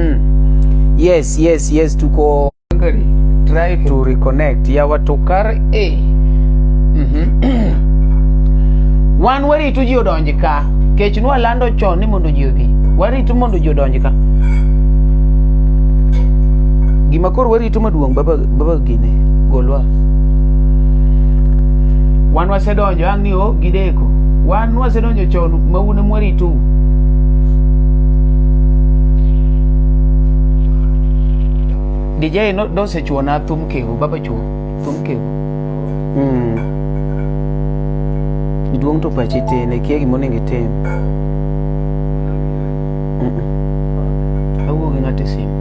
Hmm. Yes, yes, yes, tuko try to reconnect ya watokar eh. mm -hmm. wan waritu ji odonji ka kech nwa lando chon ni mondo ji obi waritu mondo ji odonji ka gima koro waritu maduong' baba, baba gine golwa wan wasedonjo ni o gideko wan nwasedonjo chon ma un emwaritou DJ no dosechuo na thum kewu baba chuo thum kewu mm. iduong to pachi tin ikia gima onego itim awuo gi ng'ato e simu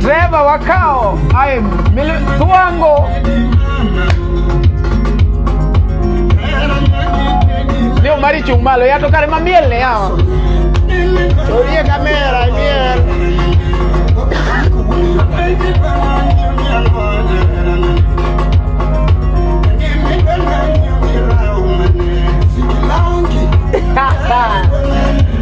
Dereva wakao aye tuwango ndio marichi umalo yatokare mamiel ne yawa orie kamera miel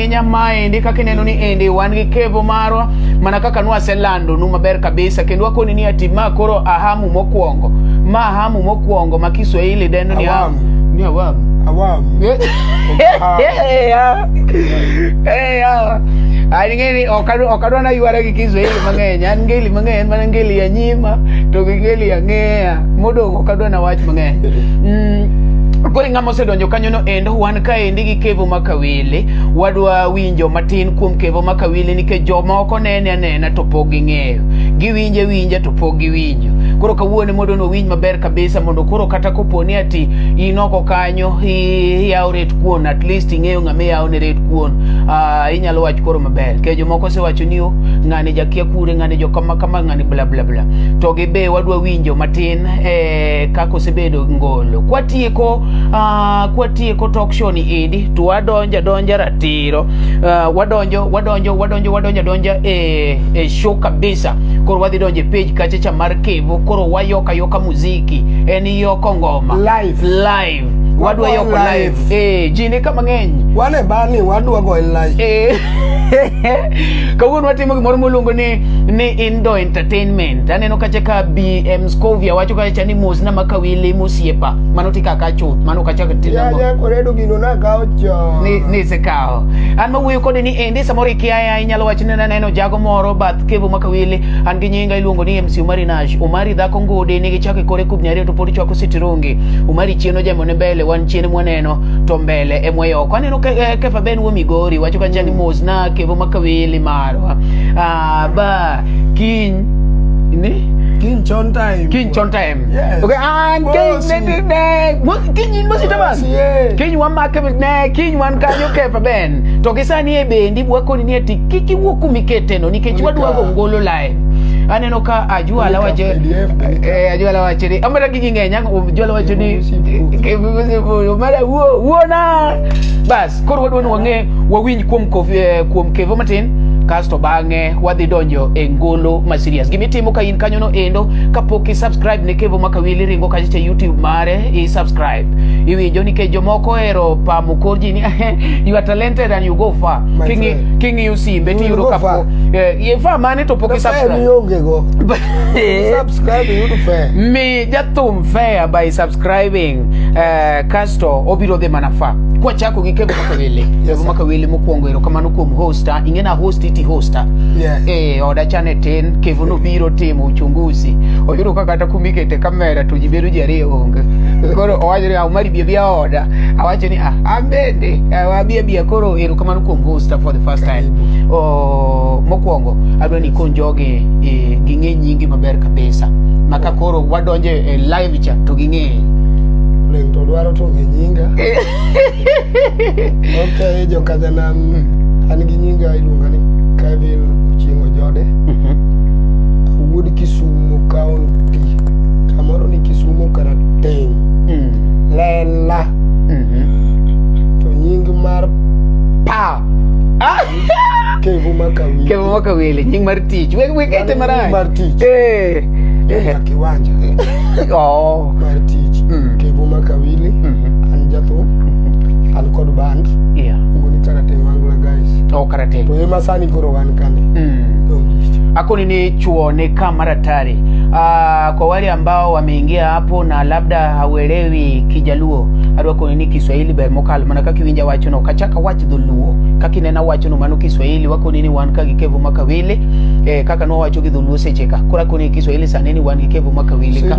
Kenya maendi kaka ineno ni endi wan gi kevo marwa mana kaka nwaselando nu maber kabisa kendo wakoni ni ati ma koro ahamu mokwongo ma ahamu mokwongo ma Kiswahili dendo ni ahamu ni awamu awamu aningeni okadwa na ywara gi Kiswahili mang'eny an ngeli mang'eny mana ngeli ya nyima to gi ngeli ya ng'eya modong' okadwa na wach mang'eny mm, kori ng'ama osedonjo kanyono endo kaendi gi kevo makawili wadwa winjo matin kuom kevo makawili nikech jomoko nene anena to pok ging'eyo giwinje winja to pok giwinjo koro kawuone mondo nowinj maber kabisa mondo koro kata koponi ati inoko kanyo iyawo ret kuon at least ing'eyo ng'ama iyawo ne ret kuon uh, inyalo wach koro maber nikech jomoko osewacho ni oh, ng'ani jakia kure ng'ani jokama kama ng'ani bla bla bla to gibe wadwa winjo matin eh, kaka osebedo ngolo kwatieko Ah, kwatieko talk show ni edi to wadonja donja ratiro uh, wadonjo wadonjo wadonjo wadonja donja e, eh, e eh, show kabisa koro wadhi donje page kacha cha mar kevo koro wayoka yoka muziki en yoko ngoma live live wadwa yoko live eh ji ni kama ng'eny wane bani wadwa go live eh kawuono watimo gimoro moluongo ni ni indo entertainment aneno kacha ka bm scovia wacho kacha ni mosna makawili mosiepa mano tika ka chuth mano ka chak tin ya ya koredo gino na ka ocho ni ni se kao an ma wuyo kode ni endi samoro ikia ya inyalo wach ni neno jago moro bath kevo maka wili an gi nyinga iluongo ni MC Umari Nash Umari dhako ngode ni gi chake kore kubnya reto podi chwako sitirongi Umari chieno jamo ne mbele wan chieno mwaneno to mbele e mweyo kwa neno ke, eh, kefa ben wo migori wacho ka chani mos na kevo maka wili marwa ah ba kin ni kin chon time kin chon time Yes. Okay, and King, King, Mosi Tamas. King, one mark, King, one can you care for Ben. Tokisa ni ebe, ndi wako ni neti, kiki wuku mikete no, nikechi wadu wako ngolo lai. Aneno ka ajua la wache, eh, ajua la wache ni, amara kiki ngenya, ajua la wache ni, umara uo, uo na. Bas, koro wadu wanu wange, wawinyi kuwa mkovi, eh, kuwa mkevo matin, kasto bange, wadhi donjo e ngolo masirias. Gimitimo ka kanyo no endo kapok i subscribe ne kevo makawili ringo kacha cha youtube mare i subscribe iwinjo nikech jomoko ero pamo kor ji ni you are talented and you go far My kingi friend. kingi usimbe You tiyudo go kapo far. eh, ye far mane to pok i Fair subscribe mionge go. Subscribe yudo fair. mi jathum fair by subscribing eh, kasto obiro dhi mana fa kwachako gi kevo makawili Yes, kevo sir. makawili mokwongo ero kamano kuom hosta ing'ena host iti hosta Yes. eh, oda chane tin kevo nobiro timo uchunguzi oyudo ka kata kumikete kamera to ji bedo ji ariyo onge koro owacho ni awmari bia bia oda awacho ni ah, an bende abia bia koro erokamano kuom hosta for the first time oh, mokwongo adwa ni kon jogi eh, ging'e nyingi maber kabisa maka koro wadonjo e live cha to ging'e Leng to dwaro to ng'e nyinga. ok jokadhanam an gi nyinga iluonga ni kevin ochieng' ojode awuod kisumo county kamoro ni kisumo karateng lela to nying mar pa kevu makawi Kevo mwaka wili, nying mar tich. Wek wek ete marach. Nying mar tich. Eh. Eh. kiwanja Oh. mar tich mm. kevo makawili mm-hmm. an jatho mm-hmm. an kod band yeah. ngoni karate mangla guys oh, karate to ema sani koro wan kani mm. akoni ni chuo ni kama ratari uh, ah, kwa wale ambao wameingia hapo na labda hauelewi kijaluo adwa koni ni kiswahili ber mokalo mana kaka iwinja wachono kachaka wach dholuo kaka inena wachono mano kiswahili wakoni ni wan ka gi kevo makawili eh, kaka nwawacho gi dholuo secheka kora koni kiswahili saneni wan gi kevo makawili ka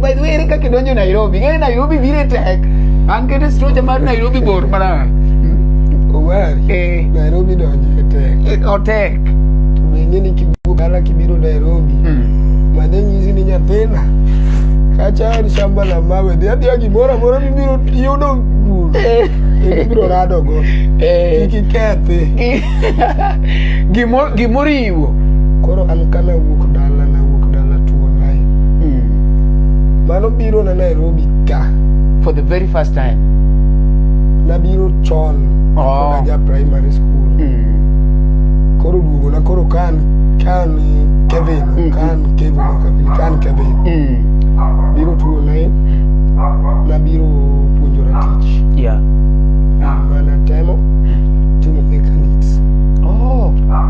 By the way, ere kaka idonjo Nairobi? Ng'e Nairobi biro e tek. An kete stroja mar Nairobi bor mana. Omari, Eh, Nairobi donjo e tek. eh, otek. To be ing'e ni kiduogo dala kibiro Nairobi, Hmm. mane nyisi ni nyathina, kacha en shamba la mawe, dhi adhiya gimoro amora mibiro yudo bul, Eh, ibiro radogo, eh. kik ikethi. Gi- gimo- gimoro iwo koro an kana wuok dala na wuok dala tuo nae mm. mano biro na Nairobi ka for the very first time nabiro chon oh. ja primary school mm. koro duogo na koro kan kan Kevin mm. kan Kevin Kevin kan Kevin mm. biro tuo nae na biro puonjora tich yeah. mana temo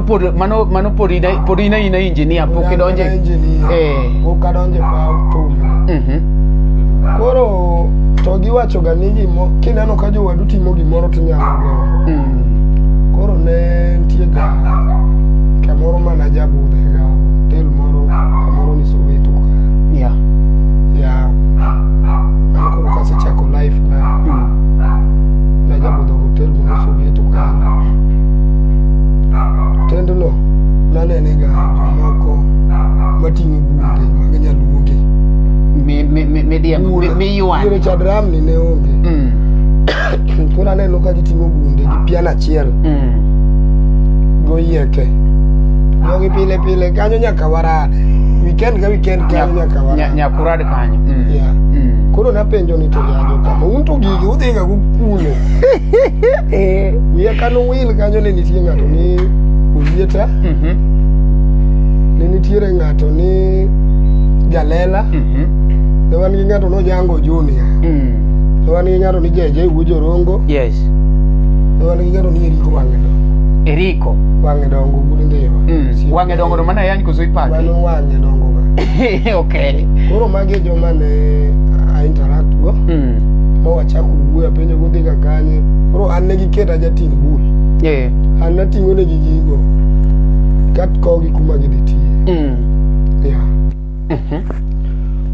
Por, mano mano por ina por ina ina engineer pok idonje. Eh. Pok adonje pa thum. Mhm. Koro to giwachoga ni gimo kineno ka jowadu timo gimoro tinyalo gowo. Mm. Koro ne nitie ga kamoro mana jabudhe ga hotel moro kamoro ni Soweto ka. Yeah. Ya. Mano koro kasechako life na Mm. na jabudho hotel moro Soweto ka. Tendno nanenega jomoko mating'o bunde mag nyaluoge. Mi- mi- mi- midiemo, mi- Ure miywane. Chad Ramni ne onge. Mm, Koro naneno ka giting'o bunde gi pian achiel mm. goyieke. Jogi pile pile kanyo nyaka warade. Weekend ka weekend kanyo nyaka Nya- warade. Nyakurad kanyo. Mm, Yeah. mm. Koro napenjo ni to yajo kama un to gigi udhiga kukulo. Eh. wiye kano wil kanyo ne nitie ng'ato ni oyieta Mhm. ne nitiere ng'ato ni jalela Mhm. ne wan gi ng'ato nojango junia Mm. ne wan gi ng'ato ni jeje wuo jorongo Yes. ne wan gi ng'ato ni eriko wang'e dongo Eriko. wang'e dongo wuod ngewa Mm. Wang'e dongo to mana yany koso ipake. mano wang'e dongo ga okay. koro magi e joma ne a interact go Mm. chako wuoyo apenjo godhi ka kanye koro an ne giket ajating' bul yeah. an nating'o negi gigo katkogi kuma gidhi tiye mm. yeah. mm -hmm.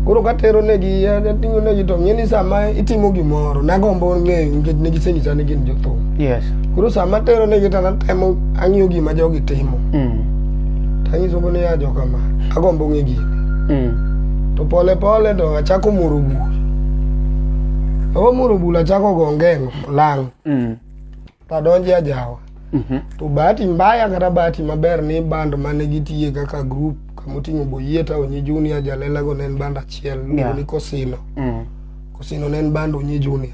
koro katero negi ating'o negi to ng'e ni sama itimo gimoro nagombo ng'eyo nikech negisenyisa ni gin jothum yes. koro sama tero negi to natemo ang'iyo gima jogi timo mm. tanyisogo ni ya jokama agombo ng'e gini mm. to pole pole to achako moro buk Omuro bula chako go ngeng lang. Mm. Tadonje ajawa. Mm -hmm. To bahati mbaya kata bahati maber ni band mane gitiye kaka group kamoting'o Boyieta Onyi Junior Jalela go ne en band achiel yeah. ni Kosino. Mm. Kosino ne en band Onyi Junior.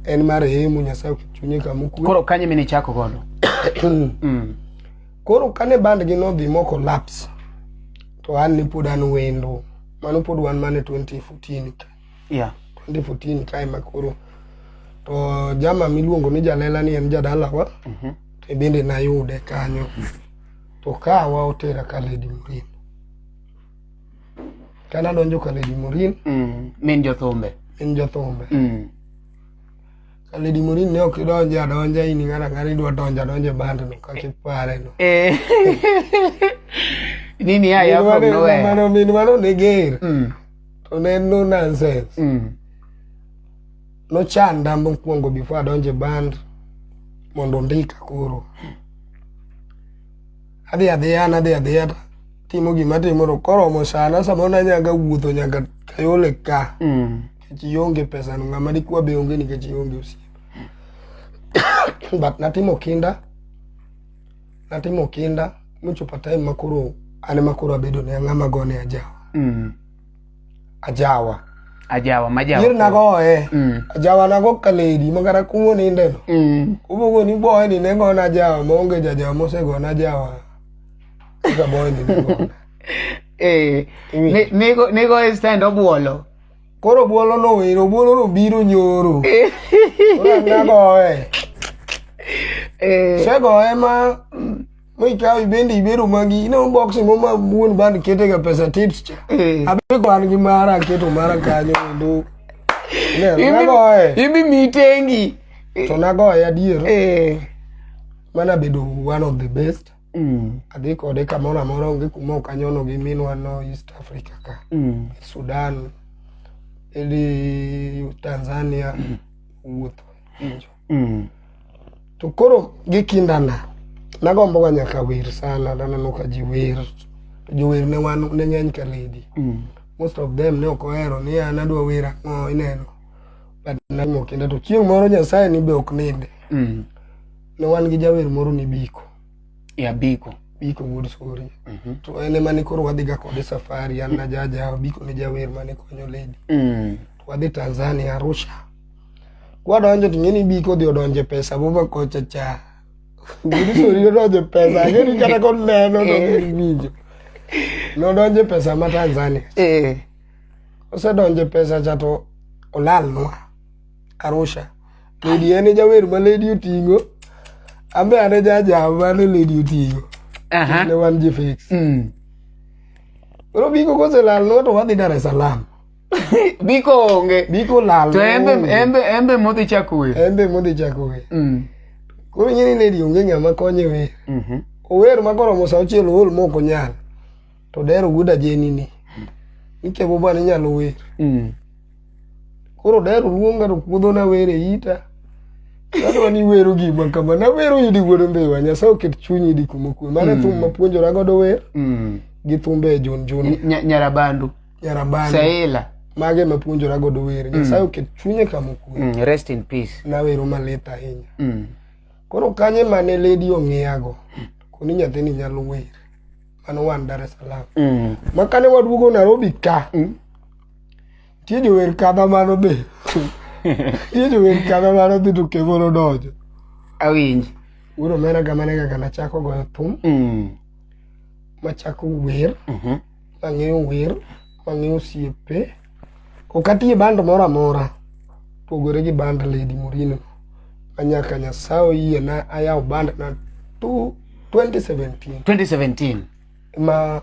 En mar hemu Nyasaye chunye kama okwe. Koro kanye mene chako godo? mm. Koro kane band gi nodhi moko laps to an ni pod an wendo. mano pod wan mana e 2014 ka yeah. 2014 ka ema koro to jama miluongo ni jalela ni en jadalawa mm -hmm. to bende nayude kanyo to kawa otera ka lady morin ka nadonjo ka lady morin mm. min jothumbe min jothumbe mm. Ka Lady Morin ne ok idonje adonja in ng'ana ng'ana idwa donjo adonja e band no kaka ipare no. Eh. Nini ya ya from nowhere. Mano min mano ne ger. Mm. To ne no nonsense. Mm. No chanda mokwongo before adonje e band mondo ndika koro. Adhi adhiya nadhi adhiya ta timo gima timo to koromo sana samoro nanyaga wuotho nyaka kayole ka. Mm. nikech ionge pesa no ng'ama dikwa be onge nikech ionge osiep but natimo kinda natimo kinda mochopo time makoro an ema koro abedo ne ng'ama gone ajawa Mm. ajawa Ajawa majawa. yir nagoye Mm. ajawa nago kaledi makata kumo nindeno Mm. ubogo ni boye ni ne gona ajawa maonge jajawa mosegona ajawa kaka boye ni ne gona Eh, Iwinjo. ne- nego- negoye stand obuolo. Koro obuolo no wero, obuolo no biro nyoro. Ora na goe. Eh. Se goe ma mi ka ibende ibero magi no box mo ma buon band kete ga pesa tips cha. Eh. Abi kwan gi mara keto mara kanyo ndo. Ne na goe. Ibi mitengi. To na goe adier. Eh. Mana bedo one of the best. Mm. Adhi kode kamoro amora onge kuma ok anyono gi minwa no East Africa ka. Mm. Sudan, ili Tanzania, wuotho. Injo. Mm. To koro gi kindana, nagombo ga nyaka wer sana, naneno ka ji wer. Jower ne wan ne ng'eny ka lady. Mm. Most of them ne ok ohero ni an adwa wer ang'o ineno. But natimo kinda to chieng' moro Nyasaye ni be ok ninde. Mm. ne wan gi jawer moro ni Biko. Ya Biko. Biko Wood Suri. Mm -hmm. To en ema ne koro wadhiga kode safari, an na jaja, Biko ne jawer mane konyo lady. Mm. To wadhi Tanzania, Arusha. Kwadonjo to ng'eni Biko odhi odonje pesa bova kocha cha. Wood Suri odonje pesa, ng'eni kata kod neno to eh. ng'eni winjo. Nodonje pesa ma Tanzania. Eh. Osedonje pesa cha to olalnwa Arusha. lady en e jawer ma lady oting'o ambe ane jaja mane lady oting'o Aha. ne wan ji fix Mm. koro biko koselal no to wadhi dar es salaam Biko onge. biko lal To embe onge. embe embe modhi chako wer. embe modhi chako wer Mm. koro nyini lady onge ng'ama konye wer Mhm. ower ma koromo sa auchiel ool mok onyal to dero wuod ajeni ni ikebo bana inyalo wer mm. koro dero luonga to puodho na wer e ita Koro ni wero gima kama na wero yudi wuod mbiwa nyasaye oket chunyi di kuma kuwe mane mm. thum mapuonjora godo wer mm. gi thumbe e jun jun nyarabandu nyarabandu saela mage mapuonjora godo wer mm. nyasaye oket chunye kama kuwe mm. rest in peace na wero malit ahinya mm. koro kanye mane lady ong'iyago koni nyathini nyalo wer mane wan Dar es Salaam. Mm. Ma kane waduogo Nairobi ka, mm. nitie jower kadha mano be. Nitie jower kadha mano dhi to Kevo nodonjo. Awinj. Wuod omena ga mane kaka nachako goyo thum. Mm. Machako wer. Mm -hmm. Mang'eyo wer. Mang'e osiepe. Ok atiye band moro amora pogore gi band Lady Murino. Anyaka Nyasaye oyie na ayawo band na 2017. 2017. Ma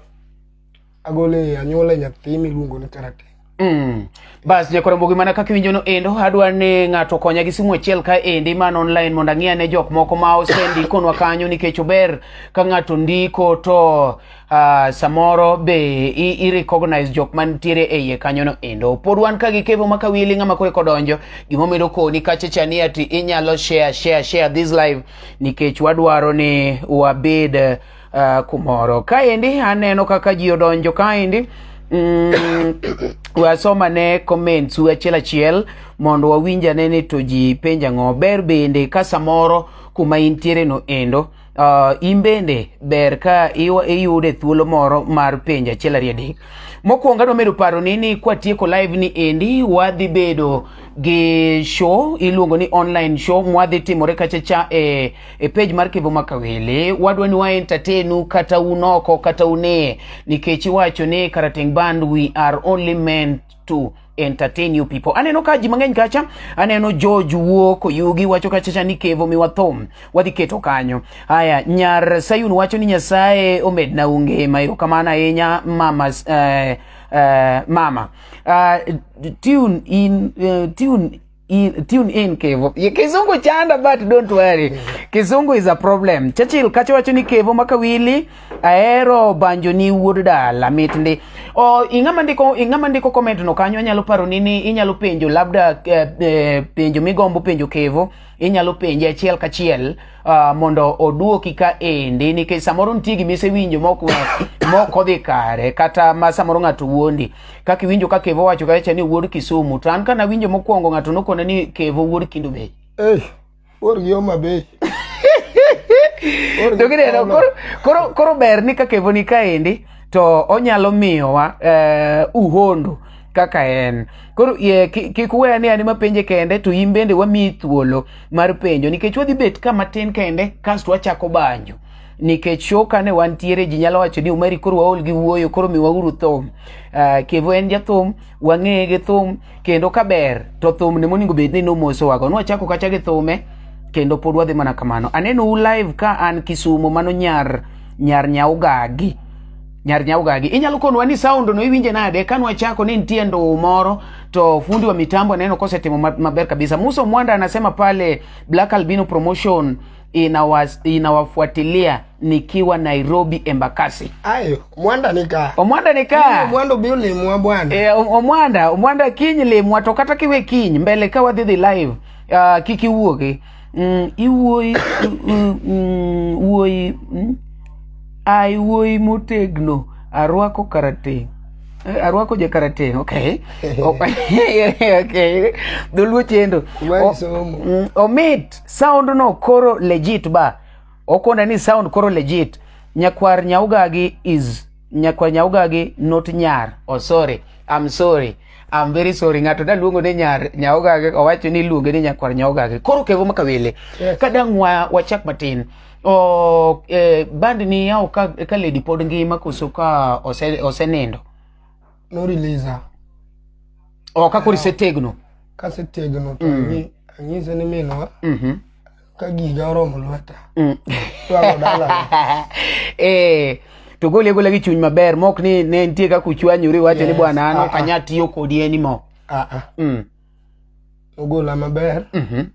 agole anyuola nyathi miluongo ni Karate. Mm. Bas jakora mbogi mana kaka iwinjo no endo adwa ni ng'ato konya gi simu achiel ka endi man online mondo ang'e ane jok moko ma osendikonwa kanyo nikech ober ka ng'ato ndiko to uh, samoro be i, recognize jok mantiere e iye kanyono endo pod wan ka gi kevo maka wili ng'ama koro kodonjo gimomedo koni kachecha ni ati inyalo share share share this live nikech wadwaro ni wabed uh, kumoro kaendi aneno kaka ji odonjo kaendi mm, wasoma ne comments u achiel achiel mondo wawinjane ni to ji penja ng'o ber bende ka samoro kuma intiere no endo uh, in bende ber ka iyude thuolo moro mar penjo achiel ariyo adek mokwongo adwa medo paro ni ni kwatieko live ni endi wadhi bedo gi show iluongo ni online show mwadhi timore kachacha e, e page mar kivu makawele wadwa ni waentatenu kata unoko kata une nikech iwacho ni karateng band we are only meant to entertain you people. Aneno ka ji mang'eny kacha, aneno George Wuok Oyugi wacho kacha cha ni kevo miwa thum, wadhi keto kanyo. Haya, nyar Sayun wacho ni Nyasaye omed na unge mayo kamana ahinya mama uh, uh, mama uh, tune in uh, tune in, tune in Kevo. Ye, Kizungu chanda but don't worry. Kizungu is a problem. Churchill kacho wacho ni Kevo makawili aero banjo ni wuod dala mit ndi. O ingama ndiko ingama ndiko comment no kanyo anyalo paro nini inyalo penjo labda eh, eh, penjo migombo penjo Kevo inyalo penje achiel kachiel uh, mondo oduoki ka endi nikech samoro nitie gima isewinjo mok odhi kare kata ma samoro ng'ato wuondi kaka iwinjo ka kevo wacho kacha ni wuod kisumu to an ka nawinjo mokwongo ng'ato nokona ni kevo wuod kindu bech hey, wuorgi oma bech to gineno koro ber ni ka kevo ni kaendi to onyalo miyowa eh, uhondo kaka en koro ye, ki- kik we ane ane mapenje kende to in bende wamiyi thuolo mar penjo nikech wadhi bet ka matin kende kasto wachako banjo nikech show kane wantiere ji nyalo wacho ni umari koro waol gi wuoyo koro miwauru thum uh, kevo en jathum wang'eye gi thum kendo ka ber to thum ni moningo bed ni nomosowago nwachako kacha gi thume kendo pod wadhi mana kamano aneno u live ka an kisumo mano nyar nyar nyaugagi nyar nyaugagi inyalo konwa ni sound no iwinje nade ka nwachako ni nitie ndoo moro to fundi wa mitambo aneno kosetimo ma- maber kabisa muso mwanda anasema pale black albino promotion inawas, inawafuatilia nikiwa Nairobi Embakasi. Ayo, mwanda nika. Omwanda nika. Mwanda biu ni mwa bwana. E, omwanda, omwanda kinyi le mwa tokata kiwe kinyi mbele kawa dhidhi live. Uh, kiki uoge. Mm, iwoi, mm, uoi, mm, ai uoi motegno, arwako karate. Eh, arwako je karate okay okay dholuo chendo omit Sound no koro legit ba. Okonda ni sound koro legit. Nyakwar Nyaugagi is Nyakwar Nyaugagi not Nyar. Oh sorry. I'm sorry. I'm very sorry. Ng'ato da luongo ni Nyar Nyaugagi owacho ni luonge ni Nyakwar Nyaugagi. Koro kevo makawele. Yes. Kadang wa wachak matin. O eh, band ni yao ka, ka lady pod ngima koso ka ose, osenindo. no release o ka kuri se tegno ka se tegno to mm. ni anyi se ni minwa mhm ka giga oromo lweta mm. to ago dala eh to gole gole gi chuny maber mok ni ne nitie kaka uchwanyori wacho ni bwana an ok anya tiyo kodi anymore ah ah mm. ogola maber mm -hmm.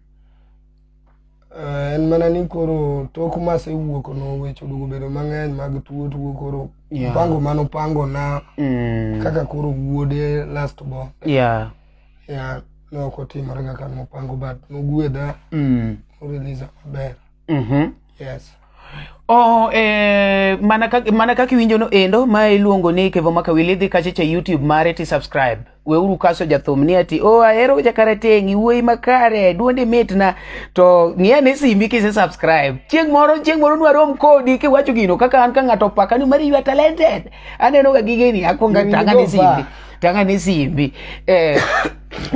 Eh, en mana ni koro tok masewuok no weche oduogo bedo mang'eny mag tuo tuo koro yeah. pango mano pango na mm. kaka koro wuode last bo yeah. yeah, ne ok otimore kaka nopango but nogwedha mm. orelisa maber mm -hmm. yes Oh, eh, mana kaka mana kaka iwinjo no endo ma iluongo ni Kevo Makawili dhi kache cha YouTube mare ti subscribe. Weuru kaso jathum ni ati oh ahero jakarateng' iwuoyi makare duondi mitna to ng'iya ni simbi kise subscribe. Chieng' moro chieng' moro nwarom kodi kiwacho gino kaka an ka ng'ato paka ni mari you are talented. Aneno ga gigeni akwonga Gini tanga ni go simbi. ba. Tanga ni simbi. Eh,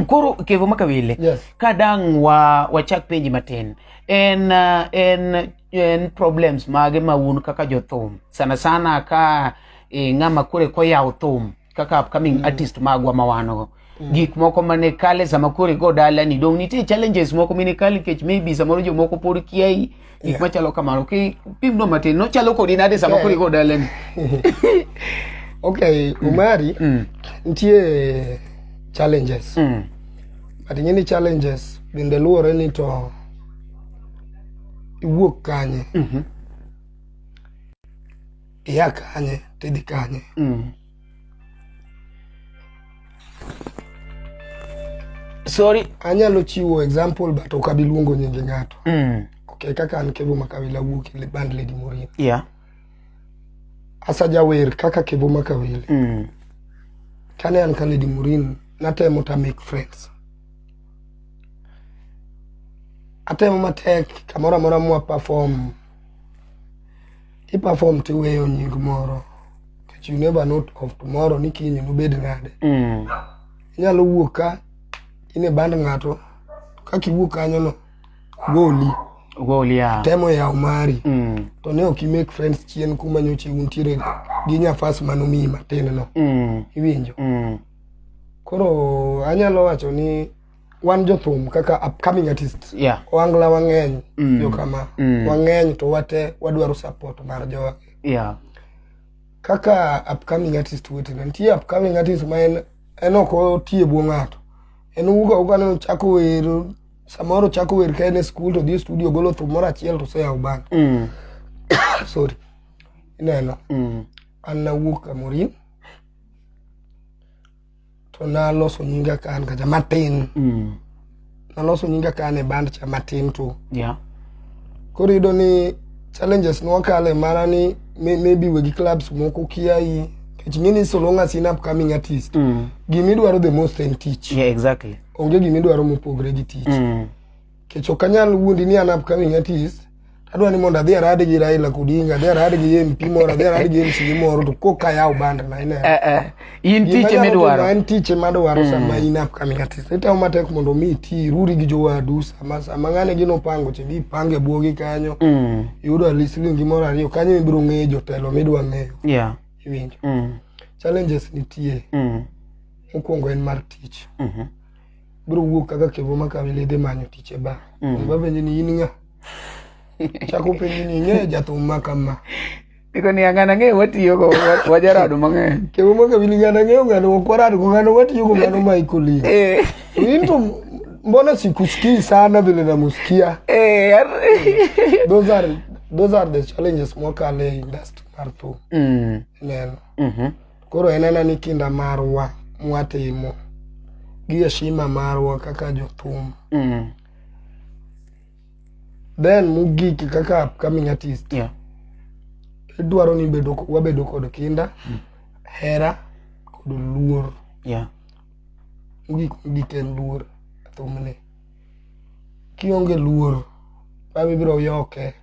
koro Kevo Makawili Yes. ka dang' wa wachak penji matin. en uh, en en problems mage ma un kaka jothum sana sana ka e, ng'ama kore koyawo thum kaka upcoming mm. artist magwa ma wan go mm. gik moko mane kale sama kore go dalani dong nitie challenges moko mine kale kech maybe samoro jomoko pod kiai gik yeah. machalo kamano ki pimno matin nochalo kodi nade sama yeah. kore go dalani okay umari mm. mm. nitie challenges mm. but ing'e ni challenges bende luwore ni to iwuok kanye Mhm. ia kanye tidhi kanye Mm. sorry anyalo chiwo example but ok abi luongo nyinge ng'ato mm. okay kaka an kevo makawila wuok e band lady morin yeah asajawer kaka kevo makawili mm. kane an ka lady murin natemo ta make friends atemo matek kamoro amora mwa perform iperform tiweyo nying moro but you never know of tomorrow ni kiny nobed nade mm. inyalo wuok ka in e band ng'ato kaka iwuok kanyono goli goli ya temo ya umari mm. to ne ok make friends chien kuma nyoche untiere gi nyafas manomiyi matin no mm. iwinjo mm. koro anyalo wacho ni wan jothum kaka upcoming artist yeah. wangla wang'eny mm. jokama mm. wang'eny to wate wadwaro support mar jowa yeah. kaka upcoming artist wetena nitie upcoming artist ma en en ok otie bwo ng'ato en uga uga ne ochako wero samoro ochako wer ka en e skul to dhi e studio golo thum moro achiel to oseyawo bang mm. sorry ineno mm. an nawuok kamorin to naloso nyinga ka an kacha matin mm. naloso nyinga ka an e band cha matin tu yeah. koro yudo ni challenges nwakale mana ni maybe wegi clubs moko kiai nikech ng'eni solonga sin upcoming artist mm. gimidwaro the most en tich yeah, exactly onge gima idwaro mopogre gi tich mm. kech ok anyal wuondi ni an upcoming artist adwa ni mondo adhi arad gi Raila Odinga adhi arad gi MP moro adhi arad gi MC moro to koka ayaw band na ine eh, eh. in tich ema idwaro en tich ema adwaro mm. sama in upcoming artist itawo matek mondo mi ti ruri gi jowadu sama sama ng'ane gino pango che gipange bwogi kanyo mm. yudo at least lingi moro ariyo kanyo ibiro ng'eyo jotelo midwa ng'eyo yeah. iwinjo mm. challenges nitie mm. mokwongo en mar tich mhm. biro wuok kaka kevo makawe ledhe manyo tich e ba mhm. babenje ni in ng'a chako penji ni ing'eyo jathum ma kama Iko ni angana ng'eyo watiyo go wajarado mang'eny. Kevo maka wili ngana ng'eyo ngano wakwarado go ngano watiyo go ngano ma ikuli. Eh. Into mbona sikusikii sana vile namusikia. Eh. Those are those are the challenges mwaka le industry martu. Mm. Neno. Mhm. Mm Koro en ena ni kinda marwa mwatimo gi heshima marwa kaka jothum. Mm. Then mogik kaka upcoming artist, Yeah. idwaro ni bedo, wabedo kod kinda, hera kod luor. Yeah. Mogik mogik en luor e thumni. Kionge luor, baba ibiro yoke.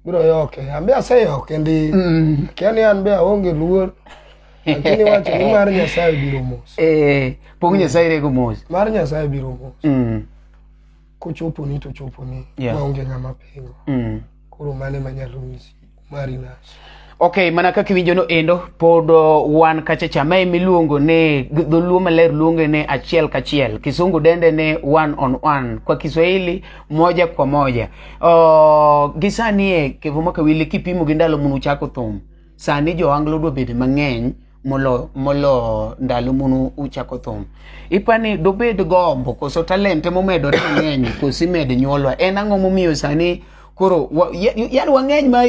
biro yoke ambe aseyoke ndi Mm. akia ni an be aonge luor lakini wacho ni mar nyasaye biro mos Eh, pong nyasaye rego mos mar nyasaye biro mos Mm, kochoponi to choponi Yeah. maonge ng'ama pingo mm. koro mane manyalo nyisi mari nas Ok, mana kaka iwinjono endo, pod uh, wan kacha cha mae miluongo ne dholuo maler luonge ne achiel kachiel, kisungu dende ne one on one, kwa Kiswahili moja kwa moja. Uh, gi sani e Kevo Makawili kipimo gi ndalo munu chako thum, sani jo Anglo dwa bedo mang'eny molo molo ndalo munu uchako thum ipani dobed gombo koso talente momedore mang'eny koso imed nyuolwa en ang'o momiyo sani koro yani wang'eny ma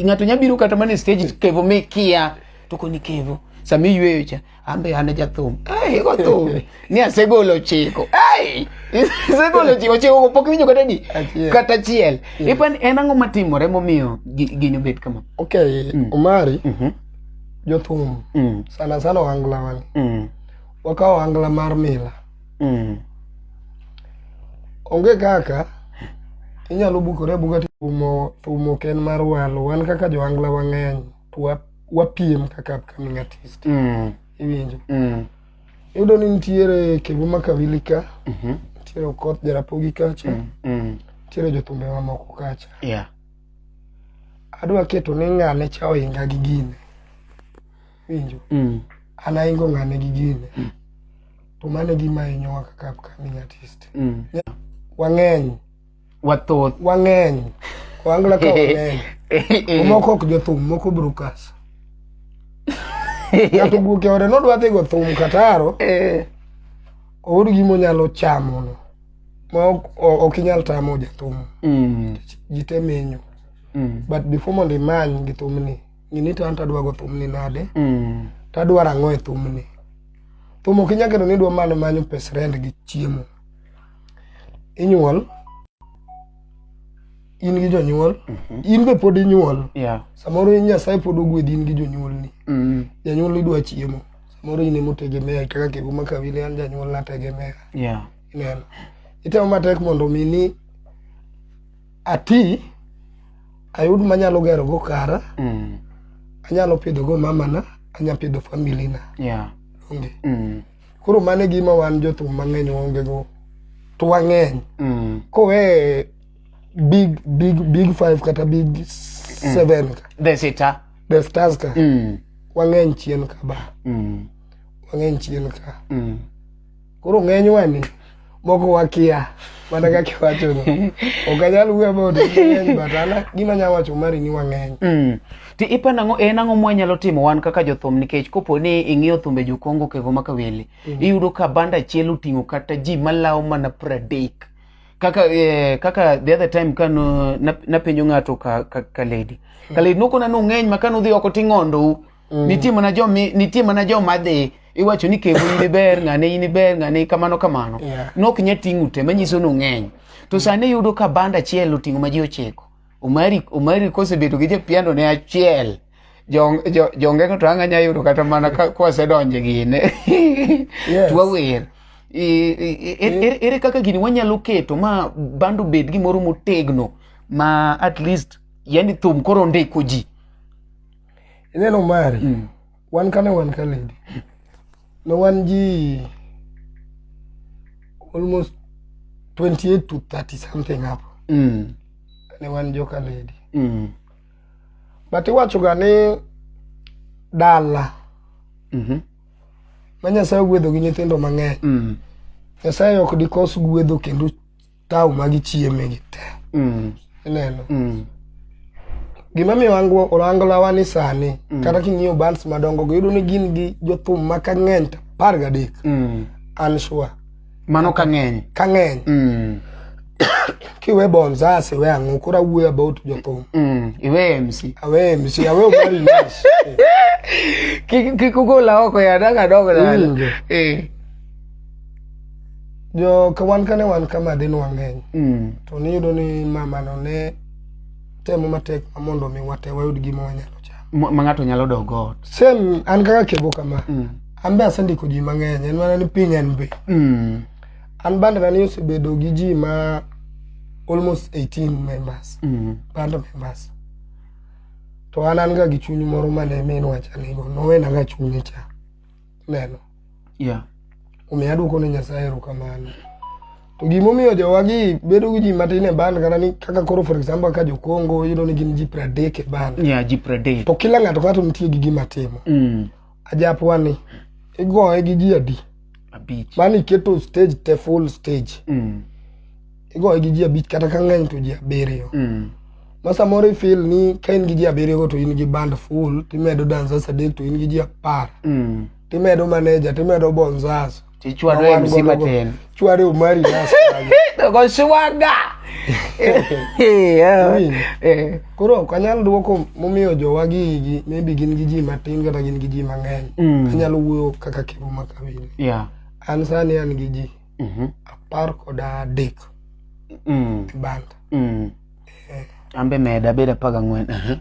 ng'ato nya biro kata mana e stage kevo mi kia to koni kevo sami yweyo cha ambe an jathum hey, go thum ni asegolo chiko hey, asegolo chiko chiko pok winjo kata ni kata chiel ipan en ang'o matimore momiyo gini obet kama okay mm. omari mm -hmm. jothum mm. sana sana ohangla wale mm. wakawo ohangla mar mila mm. onge kaka inyalo bukore abuka tumo tumo ken mar walo wan kaka johangla wang'eny to wapiem kaka upcoming artist mm. iwinjo mm. iyudo ni nitiere kebu makavili ka mm -hmm. nitiere okoth jarapogi kacha mm. mm. nitiere jothumbe mamoko kacha yeah. adwa keto ni ng'ane cha ohinga gi gine winjo mm. an ahingo ng'ane gi gine mm. to mano e gima hinyowa kaka upcoming artist mm. wang'eny wathoth wang'eny wangla ka wang'eny moko ok jothum moko brukas ng'ato guoke ore nodwa dhi go thum kataro eh. oor gimonyalo chamono ma ok o- ok inyal tamo jathum Mm. ji te menyo Mm. but before mondo imany gi thumni ng'i ni to an tadwa go thumni nade Mm. tadwaro ang'o e thumni thum ok inyal kendo ni idwa mana manyo pes rent gi chiemo inyuol in gi jonyuol in be pod inyuol Yeah. samoro in nyasaye pod ogwedhi in gi jonyuolni Mm. janyuol idwa chiemo samoro in emotegemea kaka kiguma kawili an janyuol nategemea Yeah. ineno itemo matek mondo mi ni ati ayud manyalo gero go kara mm. anyalo pidho go mamana anyalo pidho family na yeah. onge mm. koro mane gima wan jothum mang'eny waonge go to wang'eny mm. kowe big big big five kata big mm. seven mm. the sita the stars ka mm. wang'eny chien ka ba mm. wang'eny chien ka mm. Koro ng'enywa ni moko wakia mana kaka iwachono. Ok anyal wuoyo about ng'eny but an gima anyalo wacho mari ni wang'eny. Mm. Ti ipa nang'o en ang'o mwanyalo timo wan kaka jothum nikech kopo ni ing'iyo thumbe jokongo kego ma kawele mm. iyudo ka banda achiel oting'o kata ji malawo mana pradek kaka eh, kaka the other time ka napenjo ng'ato ka, ka, ka lady mm. ka lady nokona nong'eny ma ka nudhi oko ting'ondou Mm. Nitie mana jo mi- nitie mana jo madhi iwacho ni kebo in iber ng'ane in iber ng'ane kamano kamano. Yeah. Nok nya ting'u te manyiso ni ung'eny. To sani iyudo ka band achiel oting'o ma ji ochiko. Omari Omari kosebedo gi japiano ne achiel. Jo jo jongengo to anga nya yudo kata mana ka kwasedonje gine. Yes. Twawer. E- e- e- ere- ere kaka gini wanyalo keto ma bando bed gimoro motegno ma at least yani thum koro ndiko ji ineno mari mm. wan kane wan ka lady ne wan ji almost 28 to 30 something hapo mm. ne wan joka lady mm. but iwachoga ni dala mm -hmm. ma nyasaye ogwedho gi nyithindo mang'eny mm. nyasaye ok dikos gwedho kendo tawo ma gichieme gi te Mm. ineno Mm. gima miyo ango- olangolawa ni sani kata king'iyo bands madongo go yudo ni gin gi jothum ma ka ng'eny to apar gadek Mm. an sure mano ka ng'eny ka ng'eny Mm. kiwe bonzas iwe ang'o koro awuoyo about jothum Mm. iwe mc awe mc awe omari nash Kik- kik ugola oko ya daga dogo dala. Winjo. Eh. jo ka wan kane wan kama dhi nwang'eny mm. to niyudo ni mamano ne temo matek mondo mi wate wayud gima wanyalo chamo ma ng'ato nyalo dok ot same an kaka kebo kama mm. an be asendiko ji mang'eny en mana ni piny en be mm. an bandana ni osebedo gi ji ma almost 18 members mm. band members to an an ga gi chuny moro mane minwacha nigo nowenaga chunye cha neno yeah. omiyo adwoko ne nyasaye erokamano to gimomiyo jowagi bedo gi ji matin e band kata ni kaka koro for example ka jokongo yudo ni gin ji pradek e band yeah, ji pradek to kila ng'ato ka to nitie gi gima timo mm. ajapwa ni igoye gi ji adi mani iketo stage te full stage mm. igoye gi ji abich kata ka ng'eny to ji abiriyo mm. ma samoro ifil ni ka in gi ji abiriyogo to in gi band full timedo danzas adek to in gi ji apar mm. timedo maneja timedo bonzas tichwado e msi matin chwado e umari nas goshwaga eh. koro ok anyal dwoko momiyo jowa gigi maybe gin gi ji matin kata gin gi ji mang'eny mm. anyalo wuoyo kaka kivu makawinjo an sani an gi ji Mhm. apar kod adek Mm. kibanda Mm. Eh, Ambe meda beda paga ngwen. Aha.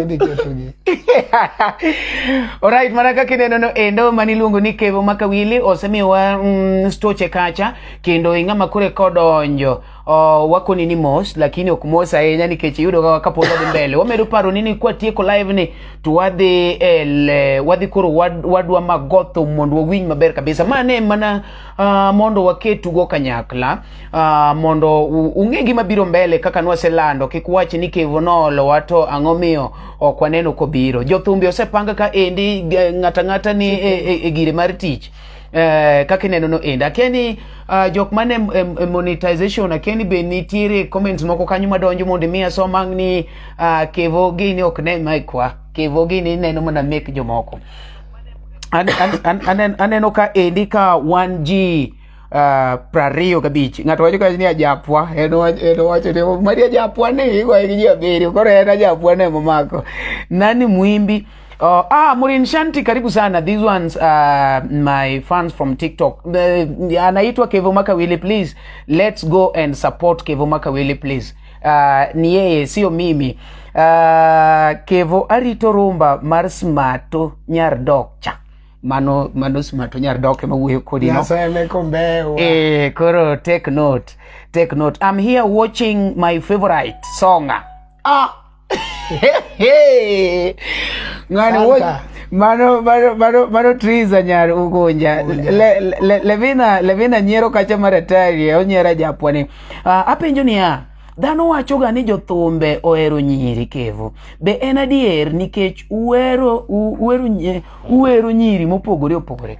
idhi ketogi Alright, mana kaka ineno no endo mani luongo ni Kevo Makawili osemiwa mm, stoche kacha kendo ing'ama kure kodonjo Oh, wako nini mos lakini ok mos ahinya nikech iyudo ga kapo wadhi mbele wamedo paro nini kwa tieko live ni to wadhi el eh, wadhi koro wad, wadwa magotho mondo wawinj maber kabisa ma ne mana uh, mondo waketugo kanyakla uh, mondo u- ung'e gima biro mbele kaka nwaselando kik wach ni kevo noolowa to ang'o miyo ok waneno kobiro jothumbi osepanga ka endi g- ng'ata ng'ata ni e, e, e gire mar tich eh, kaka ineno no end akia ni uh, jok man e, e, e monetization akia ni be nitiere comments moko kanyo madonjo mondo imiya somang ni uh, kevo gini ok ne maikwa kevo gini neno mana mek jomoko An- an- an- anen- aneno ka endi ka wan ji uh, prariyo gabich ng'ato wacho ka ni ajapwa en wach- en wacho ni mari ajapwa ni igoye gi ji abiriyo koro en ajapwa ne momako nani mwimbi Uh, ah, Morin Shanti karibu sana. These ones uh, my fans from TikTok. Uh, anaitwa Kevo Makawili please. Let's go and support Kevo Makawili please. Uh, ni yeye sio mimi. Uh, Kevo arito rumba mar smato nyar dokcha. Mano mano smato nyar dokcha ma wuoyo kodi no. Naseme kombewa. Eh, koro take note. Take note. I'm here watching my favorite songa. Ah, Ngani wote mano mano mano mano triza nyar ugunja le, le, levina levina nyiero kacha maratari onyera japwani uh, ah, apenjo niya dhano wachoga ni jothumbe ohero nyiri kevo be en adier nikech uwero uwero uwero nyiri mopogore opogore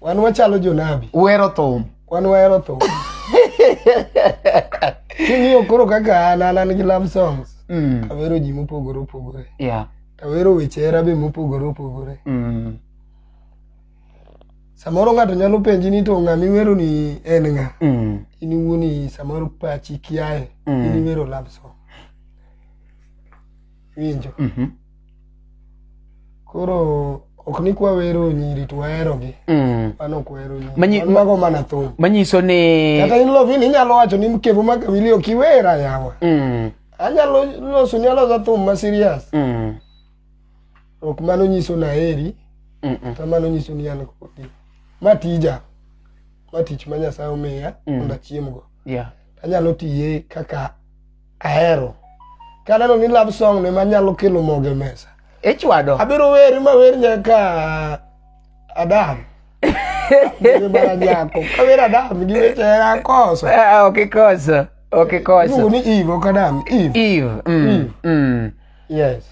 Wan wachalo jonabi. Uhero thum. Wan wahero thum. King'iyo koro kaka an an an gi love songs. Mm. Awero ji mopogore opogore. Yeah. Awero weche hera be mopogore opogore. Mm. Samoro ng'ato nyalo penji ni to ng'ama iwero ni en ng'a? Mm. In iwuoni samoro pachi kiaye. Mm. In iwero love song. winjo Mhm. koro ok ni kwa wero nyiri to waherogi Mm. mano ok wahero nyiri Manyi- Wan mago mana thum manyiso ni kata in lovin inyalo wacho ni mkevu ma kawili ok iwera yawa Mm, anyalo loso nyalosa thum ma serious mm, ok mano nyiso naheri mm, mm. kata mano nyiso ni an kodi ma tija ma tich ma nyasaye omiya Mm. mondo achiemgo Yeah. anyalo tiye kaka ahero kaneno ni love song ne manyalo kelo moge mesa ichwado abiro weri ma wer nyaka adam baranyako kawer adam gi weche hera koso Ah, ok ikoso ok ikoso iluongo ni eve ok adam eve eve mm, mm. yes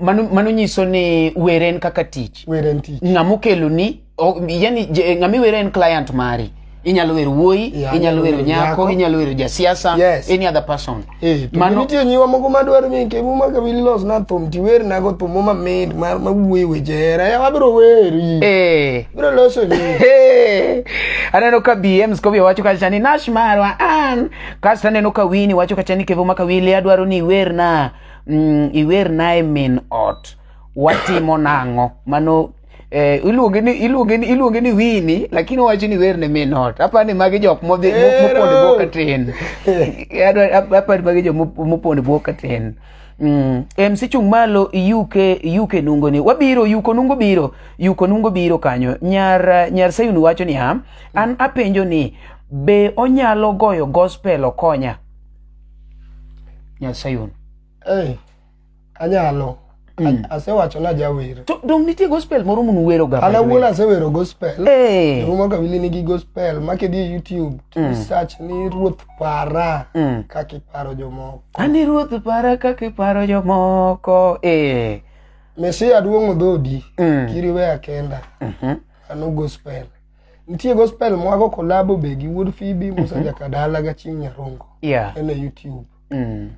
mano, mano nyiso ni were en kaka tich were en tich ng'ama okeloni o- yani je- ng'ama iwere en client mari inyalo wero wuoyi Yeah, inyalo wero nyako nyako. inyalo wero jasiasa Yes. any other person Eh, to Mano- nitie nyiwa moko madwaro ni kemu ma kabili los na thum ti wer na go thum ma mid ma ma wuoyi weche hera ya wabiro weri Eh. biro loso ni Hey! aneno ka bm skobi wacho kacha ni nash marwa an kasto aneno ka wini wacho kacha ni kevo maka wili adwaro ni iwerna mm, iwernae min ot watimo nang'o mano eh, iluonge ni iluonge ni iluonge ni wini lakini owacho ni werne min ot apa ni magi jok modhi mo- mopondo bwok katin Adwa- ap- apa ni magi jok mop- mopondo bwok katin Mm. MC chung malo yuke yuke nungo ni wabiro yuko nungo biro yuko nungo biro kanyo nyar nyar Sayun wacho niya an apenjo ni be onyalo goyo gospel okonya Nyasaye on. Hey, anyalo. Mm. Asewacho na jawer. To dong nitie gospel moro mun wero ga. Ana wuon asewero gospel. Hey. Eh. Rumo kabili nigi gospel makedi e YouTube. Mm. Search ni Ruoth Para mm. kaka iparo jomoko. Ani Ruoth Para kaka iparo jomoko. Eh. Mesia duong' odhodi. Mm. Kiriwe akenda. Mhm. Mm ano gospel. nitie gospel mwago kolabo be gi wuod fibi musa jakadala ga ching nyarongo Yeah. en e youtube Mm.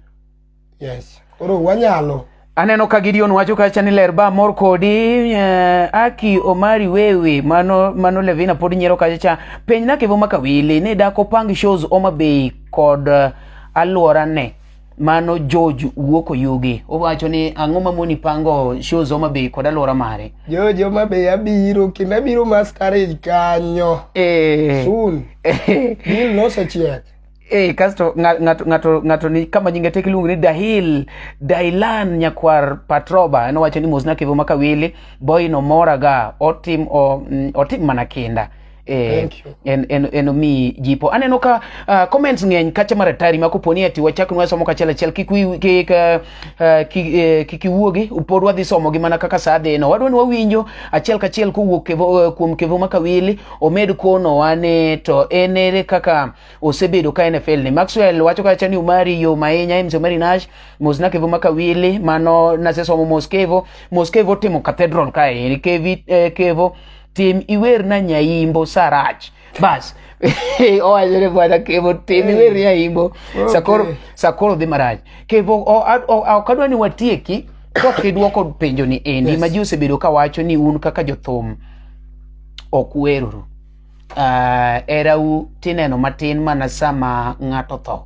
yes koro wanyalo aneno ka gideon wacho kacha ni ler ba mor kodi eh, aki omari wewe mano, mano levina pod nyiero kacha cha penj nakevo makawili ni dakopang shows oma bei kod eh, alworane mano George wuok Oyugi. Owacho ni ang'o ma moni pango shows Homa Bay kod alwora mare. George Homa Bay abiro kendo abiro masquerade kanyo. Eh. Soon. Deal nosechiek. Eh, kasto ng'ato ng'ato ng'ato ni kama nyinge tek iluongo ni Dahil Dailan nyakwar Patroba en owacho ni mosna kevo makawili boy no moraga otim o, mm, otim mana kinda Eh, en, en, en omiyi jipo aneno ka uh, comments ng'eny kacha mar atari ma koponi ati wachak nwa somo kachiel achiel kik wi- kik uh, uh, kik eh, kik iwuogi pod wadhi somogi mana kaka saa dhino wadwa ni wawinjo achiel kachiel kowuok kevo, eh, kuom kevo makawili omed konowa ni to en ere kaka osebedo ka nfl ni maxwell wacho kacha ni umari yo mainya mc umari nash mosna kevo makawili mano nasesomo mos kevo mos kevo timo cathedral kae kevi eh, kevo tim iwerna nyaimbo sarach bas owachone bwana kevo tim iwer nyaimbo sakoro sakoro dhi marach kevo o- a- o- a- ok adwa ni watieki kok idwoko penjo ni endi Yes. ma ji osebedo ka wacho ni un kaka jothum ok weruru uh, erau tineno matin mana sama ng'ato tho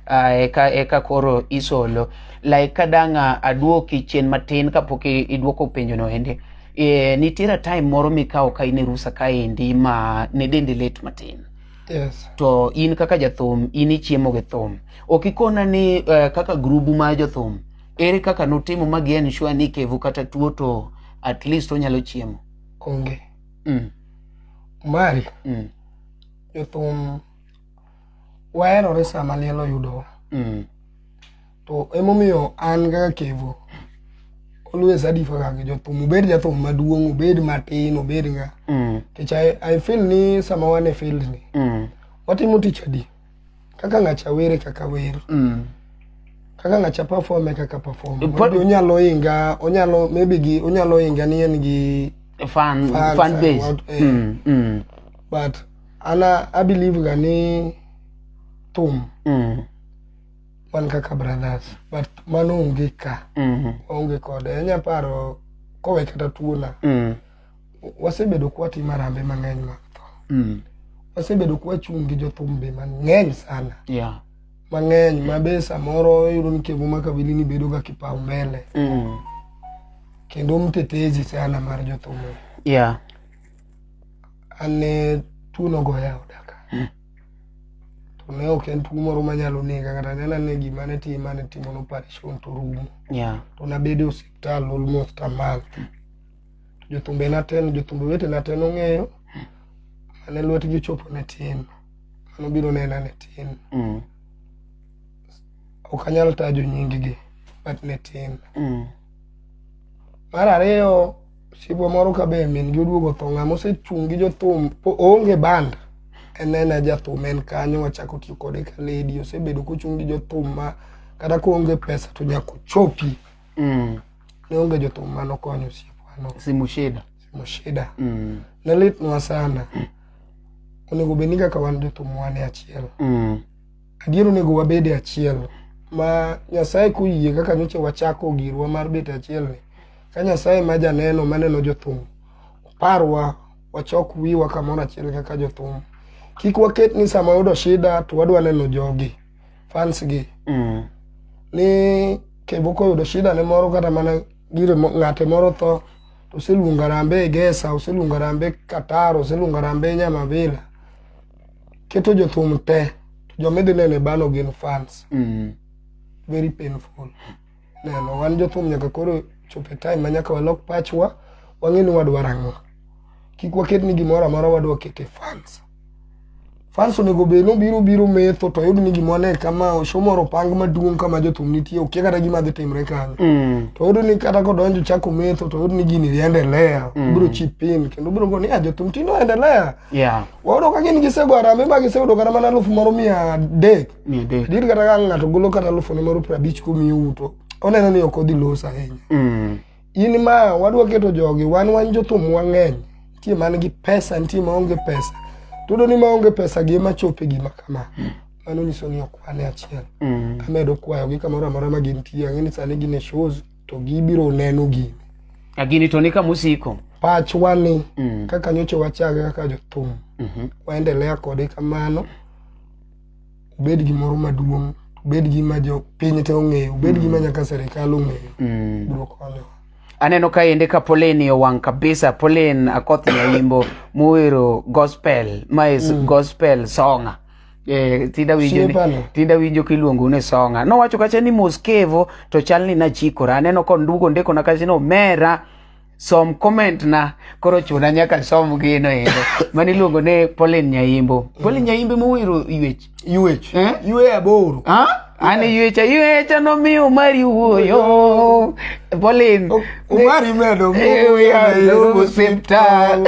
uh, eka, eka koro isolo like kadanga aduoki chien matin kapok iduoko penjo no ende e, nitiere time moro mikawo ka in e rusa kaendi ma ne dendi lit matin yes. to in kaka jathum in ichiemo gi thum ok ikona ni uh, kaka grubu ma jothum ere kaka nutimo ma gi ensure ni kevu kata tuo to at least onyalo chiemo onge mm. mari mm. jothum waherore sama liel oyudowa mm. to emomiyo an kaka kevo always adifa kaka jothum obed jathum maduong' obed matin obed nga mm. kech I, i feel ni sama wan e field ni mm. watimo tich adi kaka ng'acha were kaka wer mm. kaka ng'acha performe kaka performe onyalo inga onyalo maybe gi onyalo inga ni en gi fan, fan, fan base. What, eh, mm. Mm. but ana i believe ga ni thum mm. wan kaka brothers but mano onge ka mm. onge kode anya paro kowe kata tuona mm. wasebedo kwatimo arambe mang'eny mag tho mm. wasebedo kwachung' gi jothum be mang'eny sana yeah. mang'eny ma be samoro iyudo ni kevu makabili ni bedo ga kipau mbele mm. kendo mtetezi sana mar jothum yeah. an ne tuo nogoya oda ka hmm. to ne ok en tuo moro manyalo nega kata ne nane gima ne time mane timo no operation to rumo to nabedo e osiptal almost a month hmm. to jothumbe naten jothumbe wete naten ong'eyo hmm. mane lwetgi ochopo ne tin mano biro nena ne tin ok anyal tajo nyinggi but ne tin mar ariyo Sibwa moro ka be min gi oduogo tho ng'ama osechung' gi jothum oonge band enena jathum en kanyo wachako tiyo kode ka lady osebedo kochung' gi jothum ma kata koonge pesa to nyaka ochopi mm. ne onge jothum ma nokonyo osiepwano simushida simushida mm. ne litnwa sana mm. onego bed ni kaka wan jothum wane achiel mm. Adier onego wabed e achiel ma Nyasaye koyie kaka nyocha wachako girwa mar bet e achiel ni ka Nyasaye ma janeno maneno jothum parwa wachok wiwa kamoro achiel kaka jothum kik waket ni sama yudo shida to wadwa neno jogi fans gi mm. ni kebo koyudo shida ne moro kata mana gire ng'ate moro tho to oseluongo Harambee Egesa oseluongo Harambee Qatar oseluongo Harambee Nyamavila keto jothum te to joma idhi neno e bano gin fans Mm. very painful neno wan jothum nyaka koro chop e time ma nyaka walok pachwa wang'e ni wadwaro ang'o kik waket ni gimoro amora wadwa ket e fans fans onego bed nobiro biro metho to oyud ni gimoro ne kama oshomoro opang maduong' kama jothum nitie okia kata gima dhi timre kanyo Mm. to oyudo ni kata kodonjo chako metho to oyudo ni gini dhi endelea biro chip pin kendo biro go ni "Ah, jothum tinde oendelea Yeah. Wawudo ka gin gisego harambee ma giseyudo kata mana alufu moro mia adek. Mia adek. Dir kata ka ng'ato golo kata alufu ne moro piero abich kumiyi uto. Oneno ni ok odhi los ahinya. Mm. In ma wadwa keto jogi wan wan jothum wang'eny. Nitie man gi pesa, nitie ma onge pesa. Tudo ni ma onge pesa gi ema chope gima kama. Mm. Mano nyiso ni ok wane achiel. Mm. Amedo kwayo gi kamoro amora ma gintie. Ang'e ni sani gin e shows. to gibiro neno gini a gini to ni kama osiko pachwa ni mm. kaka nyocha wachage kaka jothum mm -hmm. waendelea kode kamano obed gimoro maduong' obed gima jo piny te ong'eyo obed mm. gima nyaka serikal ong'eyo mm. biro konyo aneno ka ende ka Pauline owang' kabisa Pauline Akoth Nyaimbo mowero gospel ma is mm. gospel songa Eh, tinda winjo ni, tinda winjo kiluongo ni songa nowacho kacha ni moskevo to chal ni nachikora aneno kondugo ndiko na kacha ni omera som comment na koro chuna nyaka som gino ero mani luongo ne Pauline Nyaimbo Pauline Nyaimbo mowiro yuech yuech eh? yueya boro ah? Ani yuecha yuecha no mi umari wuoyo. Bolin. Umari medo muyo hospital.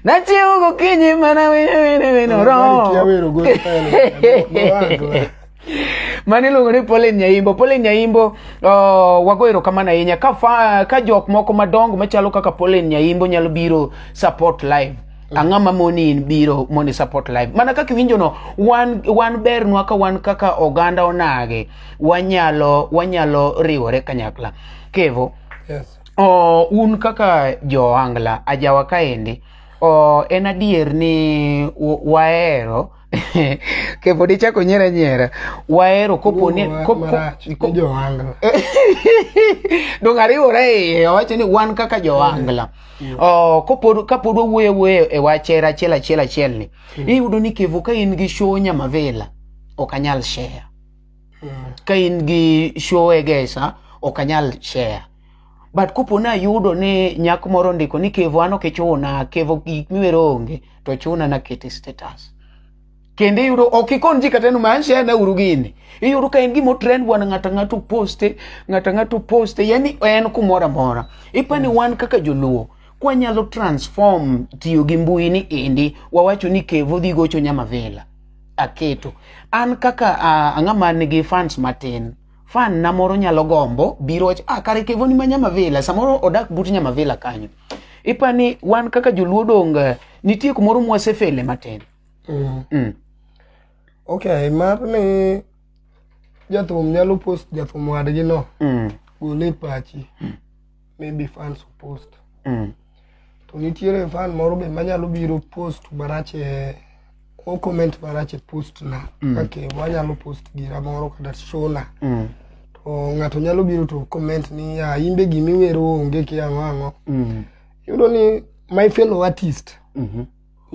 Nachi ugo kinyi mana wino wino wino ro. Mani iluongo ni Pauline Nyaimbo. Pauline Nyaimbo uh, wago erokamano ahinya ka, fa, ka jok moko madongo machalo kaka Pauline Nyaimbo nyalo biro support live ang'o ma moni in biro mondo i support live mana kaka iwinjo no wan wan bernwa ka wan kaka oganda onage wanyalo wanyalo riwore kanyakla kevo Yes. o, un kaka joangla ajawa kaendi o, en adier ni wa- wahero che podi c'è con niera niera waero copo ne copo co joangla dong ariwo re owacho ni wan kaka joangla oh copo capo do wuoyo wuoyo e wachera achiel achiel achiel ni mm. iyudo ni kevo ka in gi show nyamavela ok anyal share mm. ka in gi show egesa ok anyal share but kopo ne ayudo ni nyako moro ondiko ni kevo an ok ichuna kevo gik miwero onge to chuna na kete status kendo iyudo ok ikon ji kata maisha na uru gini iyudo ka en gima trend wan ng'ata ng'ato poste ng'ata ng'ato poste yani en kumoro amora ipani wan kaka joluo kwanyalo transform tiyo gi mbui ni endi wawacho ni kevo dhi gocho nyama vela aketo an kaka uh, ang'ama nigi fans matin fan na moro nyalo gombo biro wacho ah kare kevo ni ma nyama vela samoro odak but nyama vela kanyo ipa ni wan kaka joluo dong eh, nitie kumoro mwasefele matin mm. mm. okay mar ni jathum nyalo post jathum wadgi no mm. gole e pachi mm. maybe fans post mm. to nitiere fan moro be manyalo biro post marach e o comment marach e post na mm. kake wanyalo post gira moro kata shona mm. to ng'ato nyalo biro to comment ni ya imbe gima iwero onge ki ang'o ang'o mm. yudo ni my fellow artist mm -hmm.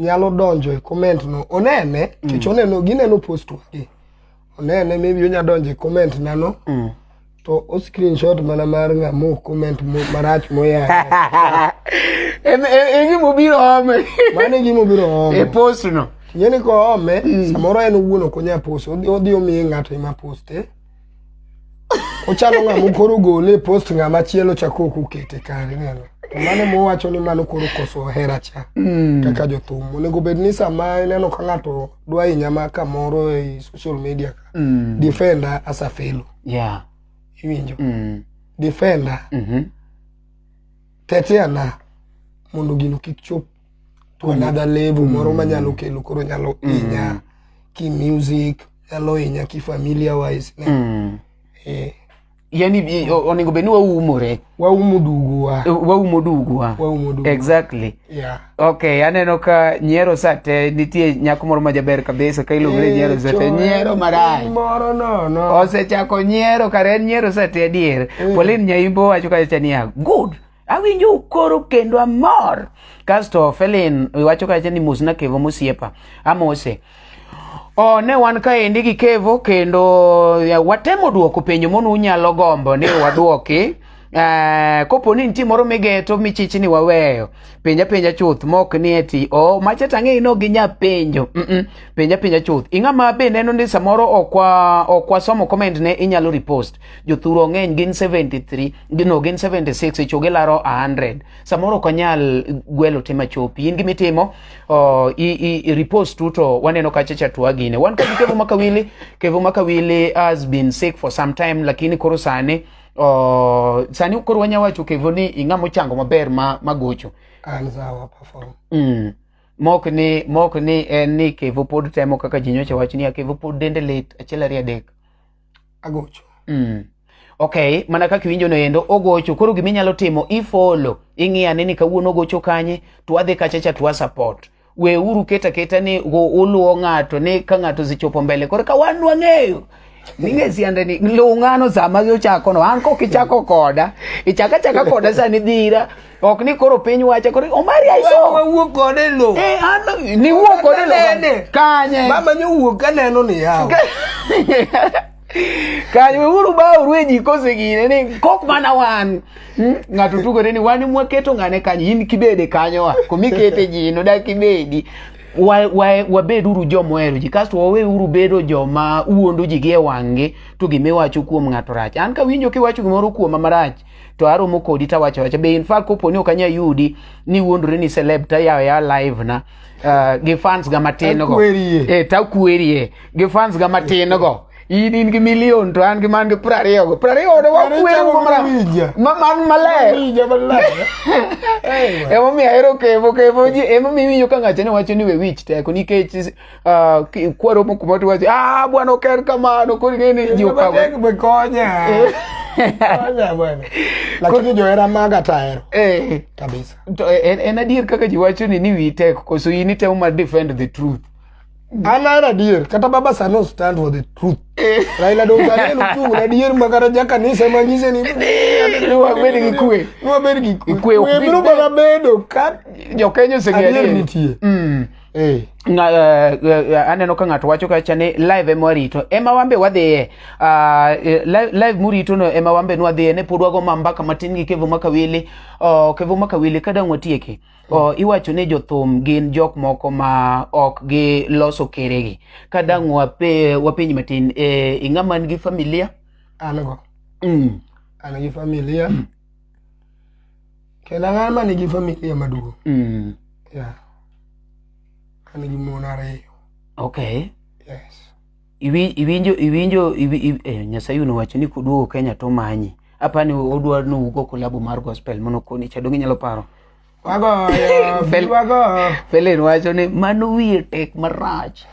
nyalo donjo e comment no onene mm. kech oneno gineno post wagi onene maybe onya donjo e comment nano mm. to o screenshot mana mar ng'amo comment marach moyang e gima obiro ome mano e gima obiro ome e post no ng'eni koome mm. samoro en owuon ok onya post odhi omiye ng'ato ema poste ochalo ng'ama koro ogole e post ng'ama chielo chako ok okete kare neno to mano mowacho ni mano koro koso hera cha mm. kaka jothum onego bed ni sama ineno ka ng'ato dwa inyama kamoro e social media ka Mm. defender as a fellow Yeah. iwinjo Mm. defender Mhm. teteana mondo gino kik chop to another level moro manyalo kelo koro nyalo inya ki music nyalo inya ki familia wise ne Mm. eh, yani i- o- onego bed ni waumore waumo duguwa Eh, waumo duguwa waumo duguwa exactly yeah. okay aneno ka nyiero sate nitie nyako moro majaber kabisa ka iluongo ni nyiero sate nyiero marach moro nono osechako nyiero kare en nyiero sate adier polin nyaimbo wacho kacha niya good awinjo ukoro kendo amor kasto felin iwacho kacha ni mosna kevo mosiepa amose Oh, ne wan kaendi gi kevo kendo watemo duoko penjo mono unyalo gombo ni wadwoki Uh, kopo ni nitie moro migeto michich ni waweyo penja penja chuth mok ni eti o oh, macha tang'e ino gi nya penjo mm -mm. penja penja chuth ing'ama be neno ni samoro okwa okwa somo comment ne inyalo repost jothuro ng'eny gin 73 gino gin 76 ichugi laro 100 samoro ok anyal gwelo te machopi in gimitimo uh, i, i, i repost tu to waneno kacha cha twagine wan kod kevo makawili kevo makawili has been sick for some time lakini koro sani uh, sani koro wanya wacho kevo ni ing'a mochango maber ma, magocho an zawa perform mm. mok ni mok ni en ni kevo pod temo kaka ji nyocha wach ni a kevo pod dende lit achiel ariyo adek agocho mm. okay mana kaka iwinjo no endo ogocho koro gima inyalo timo ifolo ing'iya ni ni kawuono ogocho kanye to adhi kacha cha to support we uru keta keta ni uluwo ng'ato ni ka ng'ato zichopo mbele koro ka wan wang'eyo ninge siande ni lung'ano sama ochako no an kok ichako koda ichaka chaka koda sani dhira ok ni koro piny wacha koro omari aiso wawuok kode lo eh an ni wuok kode lo kanye mama nyo wuok kaneno ni yawo kanye weuru baoru e ji kosegine ni kok mana wan hmm? ng'ato tugore ni wan mwaketo ng'ane kanye in kibede kanyowa komikete ji noda kibedi wabeduru wa, wa joma ohero ji kasto waweuru bedo joma wuondo ji gi e wang'gi to gima iwacho kuom ng'ato rach an kawinjo kiwacho gimoro kuoma marach to aromo kodi tawacho wacha be infact kopo ni ok anya yudi ni wuondore ni celeb tayawo ya live na uh, gi fans ga matin go Takwerie. eh takwerie gi fans ga matin go in in gi million to an gi man gi prariyo go prariyo do Prariyo wakwere chako go mara mawija. ma man maler Mawija maler. Ewa. emomiyo ahero kevo kevo ji emomiyo iwinjo ka ng'ato ne wacho ni we wich teko nikech uh, kwaro moko moti wacho ah bwana ok en kamano koro ing'eni ji okawo be konya eh. konya bwana lakini johera maga tahero eh. kabisa to eh, en, en adier kaka ji wacho ni ni wi tek koso in itemo mar defend the truth an ahero adier kata baba sano stand for the truth eh. raila donganel uchung' adier ma kata jakanisa ema nyise ni wabed gi kwe wabed gi kwe biro mana bedo ka jokenya oseng'eyo nitie mm. Hey. Nga, uh, uh, aneno ka ng'ato wacho kacha ni live ema warito ema wambe wadhiye uh, live, live murito no ema wambe nwadhiye ne pod wago mambaka matin gi kevo makawili uh, kevo makawili ka dang' watieki uh, iwacho ni jothum gin jok moko ma ok giloso keregi ka dang' wape, wapenj matin eh, ing'a man gi familia an go mm. an gi familia mm. Kendo ang'an ma nigi familia maduong'. Mm. Yeah. An gi mon ariyo. Okay. Yes. Iwi- Iwinjo iwinjo iwi- iwi- eh, Nyasaye nowacho ni kuduogo Kenya to manyi. Apa ni odwa ni ugo kolabo mar gospel mono koni chadongi nyalo paro. Wagoyo, Fel- wagoyo. Felen wacho ni mano wiye tek marach.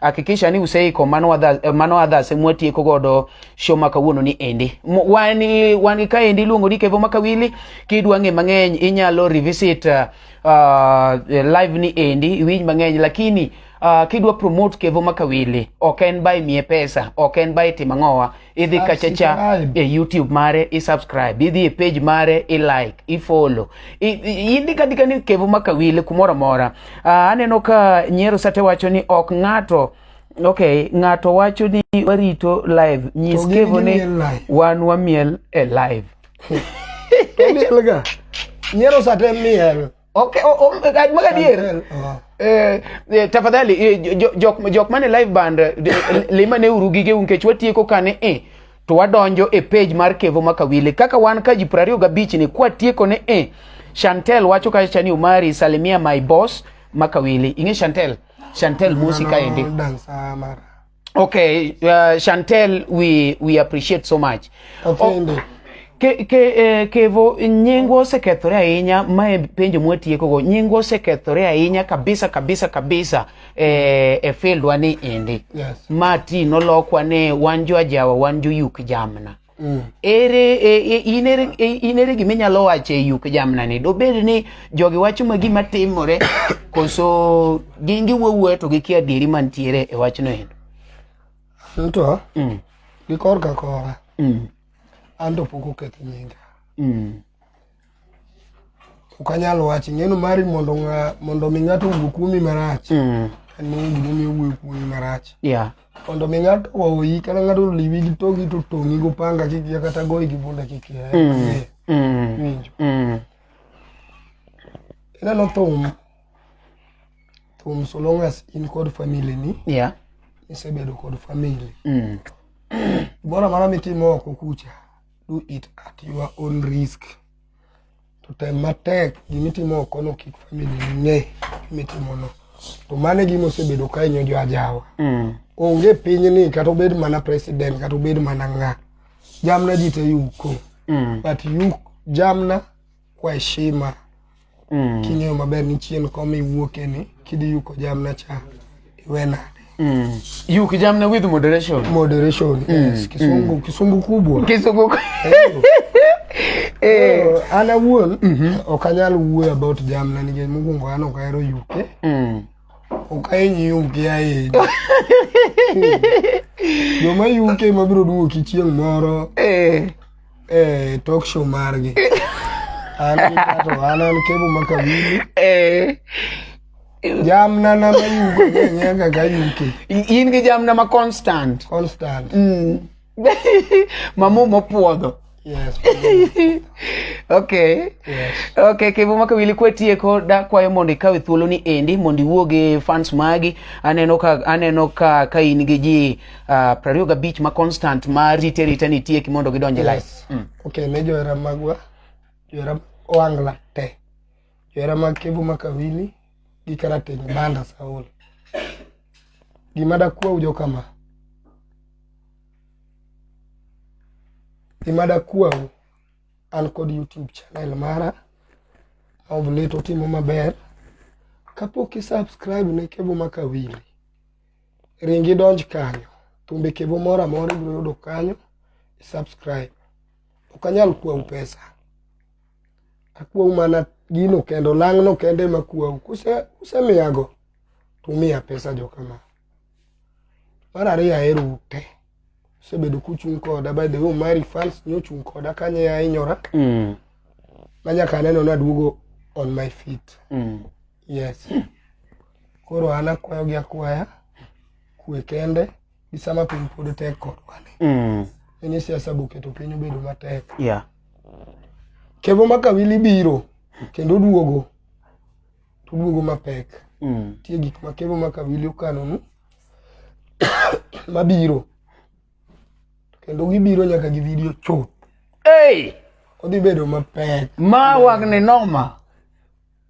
hakikisha ni useiko mano wadha, eh, mano adhase mwatieko godo show ma kawuono ni endi wan wan ka endi luongo ni kevo makawili kidwa ng'e mang'eny inyalo revisit uh, uh, live ni endi iwinj mang'eny lakini uh, kidwa promote kevo makawili ok en by mie pesa ok en by timang'owa idhi kachacha e YouTube mare i subscribe idhi e page mare i like i follow indika ndika ni Kevo Makawile kumoro amora uh, aneno ka Nyero Sate wacho ni ok ng'ato ok ng'ato wacho ni warito live nyis Kevo ni wan wamiel e live Nyero Sate miel ok ma ka dier tafadhali jok mane live band limane uru gige u nikech watieko kane e to wadonjo e page mar kevo makawili kaka wan ka ji piero ariyo gabich ni kwatieko ne e chantel wacho ka chani umari salimia my boss makawili ing'e chantel chantel musi kaendi Okay, uh, Chantel, we we appreciate so much. Okende. Oh, ke ke eh, kevo nyingwa osekethore ahinya ma e penjo mwatieko go nyingwa osekethore ahinya kabisa kabisa kabisa eh, e fieldwa ni endi yes. ma ti nolokwa ni wan jo ajawa wan jo yuk jamna Mm. Ere e, e, in ere e, in ere gima inyalo wacho e yuk jamna ni dobed ni jogi wacho ma gima timore koso gin giwuowuoyo to gikia adieri mantiere e wachno endo anto mm. gi korka kora mm. anto pok okethi nyinga mm. ok anyal wacho ing'eno mari mondo ng'a mondo mi ng'ato owuo kuomi marach mm. en mong'o gimomiyo owuoyo kuomi marach yeah. mondo mi ng'ato oyi kata ng'ato oliwi gi togi to tong'i go panga kikia kata goyi gi bunda kikia mm. mm. winjo mm. ineno thum thum so long as in kod family ni yeah. isebedo kod family mm. gimoro amara mitimo oko kucha do it at your own risk to tem matek gimitimo okono kik family ng'e gimitimono to mano e gima osebedo ka inyo jo ajawa mm. onge pinyni kata obed mana president kata obed mana ng'a jamna ji te yuko mm. but yuk jamna kwa heshima mm. king'eyo maber ni chien koma iwuoke ni kidhi yuko jamna cha iwe nade mm. yuki jamna with moderation moderation mm. yes. kisungu mm. kisungu kubwa kisungu Eh, oh, an awuon mhm. ok anyal wuoyo about jamna nikech mokwongo an ok ahero yuke mm. ok ahiny yuke ahinya joma yuke mabiro duoki chieng' moro eh. eh talk show margi an gi kato an an kebo maka wili Eh, jamna na mayugo ng'enyea kaka yuke in gi jamna ma constant constant mamu mopuodho yes okay yes okay kevo maka wili kwatieko dakwayo mondo ikawe thuoloni endi mondo iwuog e fans magi aneno ka aneno ka ka in gi ji uh, prariyo gabich ma constant ma rite rite ni tieki mondo gidonje yes. life mm. okay ne johera magwa johera oangla te johera mag kebu makawili gi karateng banda saul gima dakwa ujo kama gima dakwa u an kod youtube channel mara of late otimo maber kapok i subscribe ne kebu makawili ring idonj kanyo thumbe kevo moro amora ibiro yudo kanyo subscribe ok anyal kwau pesa akwau mana gino kendo lang'no kende ma kwau kusemiyago to umiya pesa jokama mar ariyo ahero ute usebedo kuchung' koda by the way mari fans nyochung' koda kanye ahinyora mm. manyaka aneno naduogo on my feet mm. Yes. Koro an akwayo gi akwaya kwe kende gi sama piny pod tek kodwa ni. Mm. En ni siasa boketo piny obedo matek. Yeah. Kevo ma Kawili biro kendo oduogo to oduogo mapek. Mm. Tie gik ma Kevo ma Kawili okanonu mabiro kendo gibiro nyaka gi video chuth. Hey! Odhi bedo mapek. Ma wang' ni noma.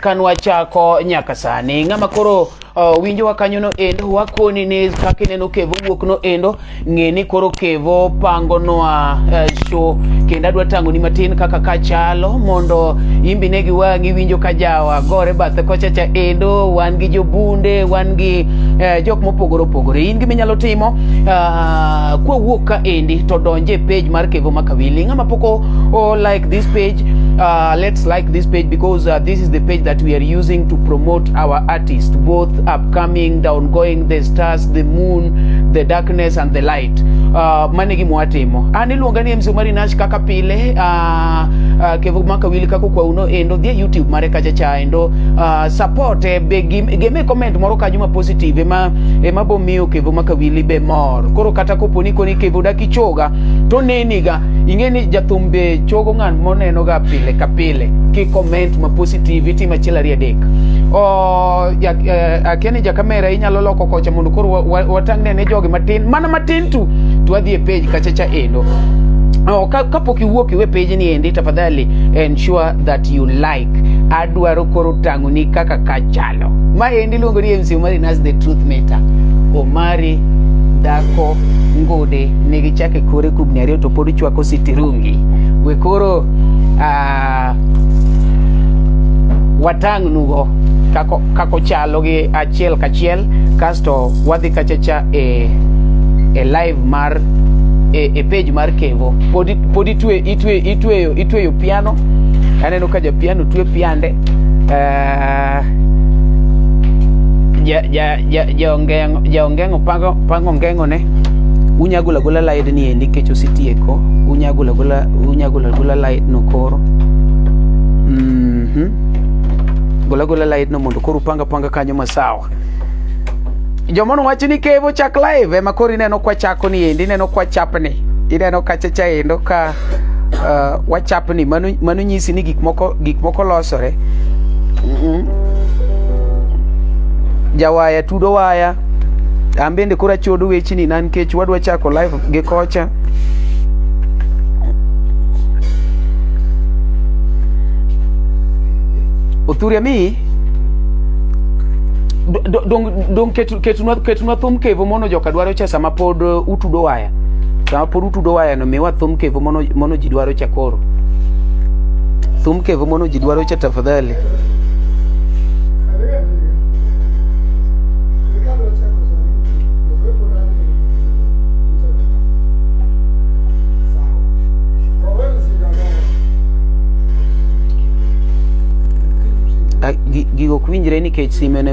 kanwa chako nyaka sani ng'ama koro uh, winjowa kanyono endo wakoni ni kaka ineno kevo wuok no endo ng'e ni koro kevo pangonwa uh, show kendo adwa tang'oni matin kaka ka chalo mondo imbi ne giwang'i winjo ka jawa gore bathe kochacha endo wan gi jobunde wan gi uh, jok mopogore opogore in gima inyalo timo uh, kwawuok ka endi to donje page mar kevo makawili ng'ama poko oh, like this page uh, let's like this page because uh, this is the page that we are using to promote our artists both upcoming the ongoing the stars the moon the darkness and the light uh, mane gi mwatimo an iluonga ni MC Omari Nash kaka pile uh, uh, kevo maka wili kako kwa uno endo dhie YouTube mare kacha cha endo uh, support eh, be geme comment moro kanyo ma positive ema ema bomiyo kevo maka wili be mor koro kata koponi koni kevo dakichoga to neniga ing'e ni jathum be chogo ng'at monenoga pile ka pile ki comment ma positive itimo achiel ariyo adek eh, akia ni jakamera inyalo loko kocha mondo koro watang'ne ne jogi matin mana matin tu to wadhi e page kachacha endo Oh, kapok iwuok iwe page ni endi tafadhali ensure that you like adwaro koro tang'oni kaka kachalo ma endi luongo ni MC Omari Nas the Truth Matter Omari dhako ngode ne gichake kore kubni ariyo to pod chwako sitirungi we koro uh, watang' nugo kako, kako chalo gi achiel kachiel kasto wadhi kachacha e, e live mar e, e page mar kevo pod, pod itwe, itwe, itweyo, itweyo piano aneno ka japiano twe piande uh, ja, ja, jaongeng'o pango ngeng'one unya gula gula laid ni endi kech ositieko unya gula gula unya gula gula laid no koro mm -hmm. gula gula laid no mondo koro panga panga kanyo masawa jomono wacho ni kevo chak live ema koro ineno kwa chako ni endi ineno kwa chapni ineno kacha cha endo ka uh, wachapni mano, mano nyisi ni gik moko, gik moko losore mm -hmm. jawaya tudo waya an bende koro achodo wechni na nikech wadwa chako live gi kocha othuria mi dong ketunwa thum kevo mono joka dwaro cha sama pod uh, utudo waya sama pod utudo wayano miwa thum kevo mono, mono ji dwaro cha koro thum kevo mono ji dwaro cha tafadhali Ah, gi- gigo ok winjre nikech sime ne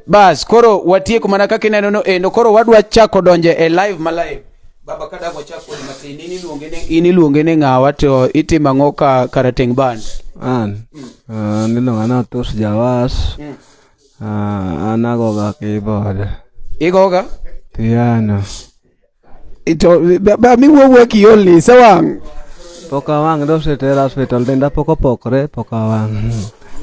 Bas, koro watieko mana kaka ineno no endo. Koro wadwa chako donje e live ma live. Baba ka dago chako ni matin in iluonge ne in iluonge ne ngawa to itimo ang'o ka karateng band. An. Ah, nilo ngana tos jawas. Ah, anago ga keyboard. Igoga? Piano. Ito, ba, ba, mi wuowuo kiolni se wang'. Pok awang' dosetera hospital denda pok opokre pok awang'.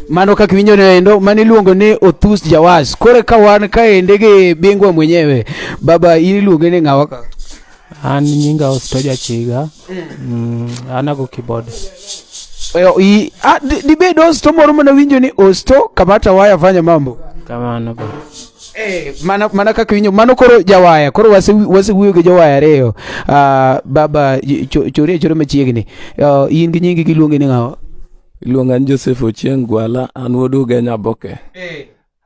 Mano kaka winjo ne endo mano iluongo ni Othus Jawas. Koro ka wan ka ende gi bingwa mwenyewe. Baba iluonge ni ng'awa ka. An nyinga Osto Jachiga. Mm, anago keyboard. Oyo, i, ah, di- dibed osto moro mana winjo ni osto kamata waya fanya mambo Kamano ba. Eh, mana, mana kaka winjo mano koro jawaya koro wase- wasewuoyo gi jowaya ariyo Ah, baba y- cho- chori achora machiegni Ah, in gi nyingi giluongi ni ng'awa Iluonga ni Joseph Ochieng Gwala, an wuod Ugenya Boke.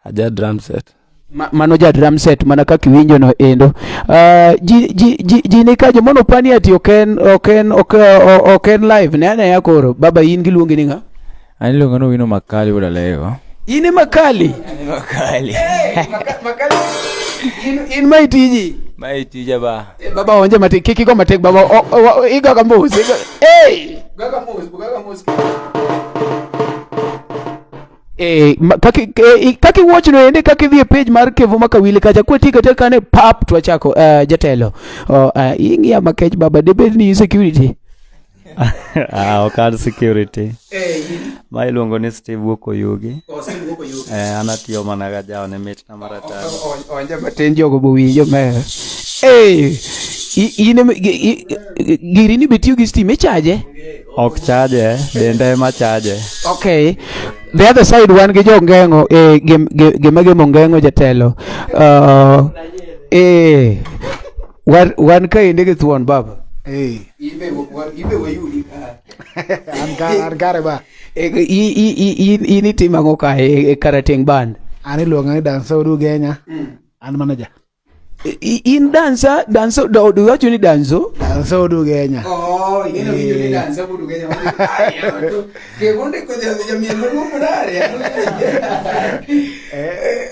aja drum set Ma, mano ja drum set mana kaka iwinjo no endo uh, ji, ji, ji, ji ni kajo mono pani ati ok en ok en ok, ok en live ne anaya koro baba in giluongi ni nga ani luongo ni wino makali wuod alego in makali makali hey, maka, makali in, in mai tiji mai tija ba e, baba onje mati kiki go matek baba iga kambos iga hey gaga mos gaga mos Eh, ma- kaki eh, i- kaki watch no ende kaki dhie page mar Kevo Makawili kacha kweti kata kane pap to achako eh, jatelo. Oh, eh, ingia makech baba debed ni security. ah, ok an security ma iluongo ni steve wuok oyugi eh, an atiyo mana ga jaone mit onja matin jogo bowinjo mer giri ni bitiyo gi stima ichaje ok chaje dende ema chaje okay the other side wan gi jo ngeng'o eh, gima gemo ngeng'o jatelo uh, eh, wan kaende gi thuon baba eh. an kare ba E, i i i in in itimo ang'o ka e, e karateng band an iluonga ni dansa odu genya mm. an manager I, in dansa danso do do wacho ni danso dansa odu genya oh you know you ni eh. dansa odu genya ke wonde ko dia dia mi no mo mare eh, eh,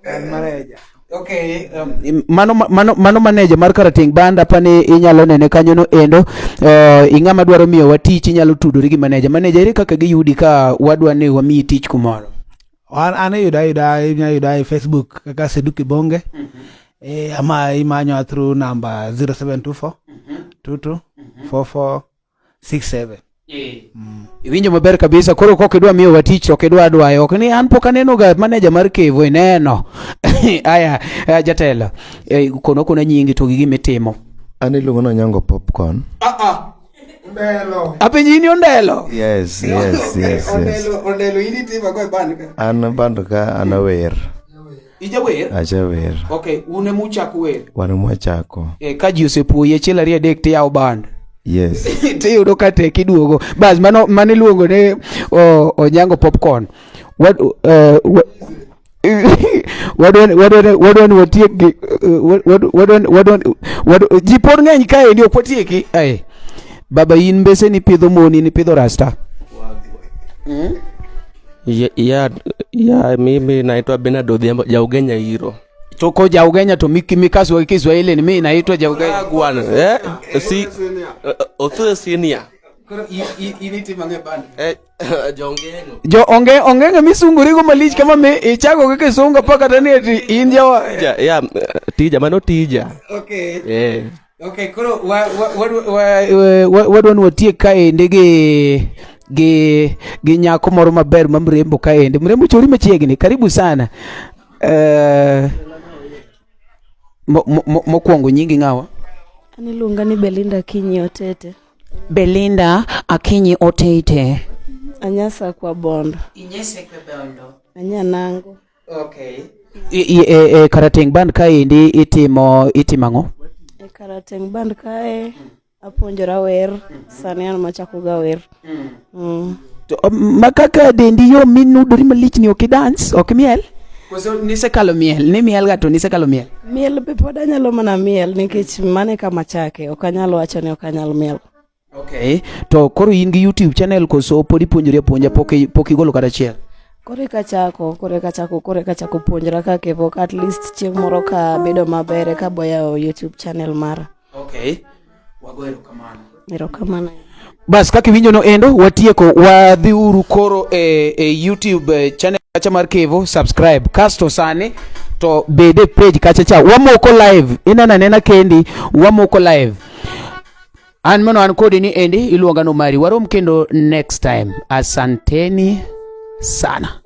eh an manager Okay, um, mano mano mano manager mar Karating Banda pani inyalo nene kanyo no endo uh, ing'ama dwaro miyo wa tich inyalo tudori gi manager manager ere kaka giyudi ka wadwa ni wamiyi tich kumoro an an yuda yuda inya yuda e Facebook kaka Sedu Kibonge mm -hmm. eh, ama imanyo through number 0724 mm -hmm. 22 mm -hmm. 44 67 eh. mm. Iwinjo maber kabisa. Koro kok idwa miyo wa tich ok idwa dwayo ok ni an pok aneno ga manager mar Kevo ineno. Aya eh, jatelo. Eh, kono kono nyingi to gi gima itimo. An iluongo na nyango popcorn. Ah ah. Ondelo. Apenji ini ondelo. Yes, yes, yes. yes. Ondelo, ondelo ini tima kwa band ka. An band ka anawer. Ijawer? Ajawer. Okay, un ema uchako wer. Wan ema wachako. Eh, ka ji osepuoyi achiel ariyo adek tiyawo band. Yes. Tiyudo ka tek iduogo. Bas mano mano iluongo ni onyango popcorn. What uh, eh, what wadwani watiek gi eh, ji pod ng'eny kaendi ok watieki ae baba in mbese nipidho moni nipidho rasta hmm? ya, ya, ya mimi naitwa Bernard Odhiambo Jaugenya hiro toko Jaugenya to miki mikasu wa Kiswahili ni mimi naitwa Jaugenya gwana eh si eh, othu senior eh, jo onge onge misunguri go malich kama me ichago kaka isunga paka tani ati india wa ya tija mano tija okay eh Okay, koro wadwa ni watiek kaendi gi gi gi nyako moro maber ma mrembo kaendi. Mrembo chori machiegni. Karibu sana. Eh mokwongo nyingi ng'awa? An iluonga ni Belinda Akinyi Otete. Belinda Akinyi Otete. Anyasa kwa Bondo. Inyese kwa Bondo. Anyanango. Okay. I, i, e, e Karateng Band kaendi itimo itimo ang'o? E Karateng Band kae apuonjora wer, sani an machako ga wer. Mm. Mm. To um, ma kaka dendi yo minudori malich ni ok idans, ok miel? Koso nisekalo miel, ni miel ga to nisekalo miel. Miel be pod anyalo mana miel nikech mane kama chake, ok anyal wacho ni ok anyal miel. Okay. To koro in gi YouTube channel koso pod ipuonjori apuonja pok pok igolo kata achiel? Koro eka chako, koro eka chako, koro eka chako puonjra ka kevo at least chieng' moro ka bedo maber ka boyawo YouTube channel mara. Okay. Wago erokamano. Erokamano. Bas kaka iwinjono endo watieko wadhiuru koro e, e YouTube e, channel kacha mar Kevo subscribe kasto sani to bede page kacha cha wamoko live inena nena kendi wamoko live An mono an kodi ni endi iluonga no mari. Warom kendo next time. Asanteni sana.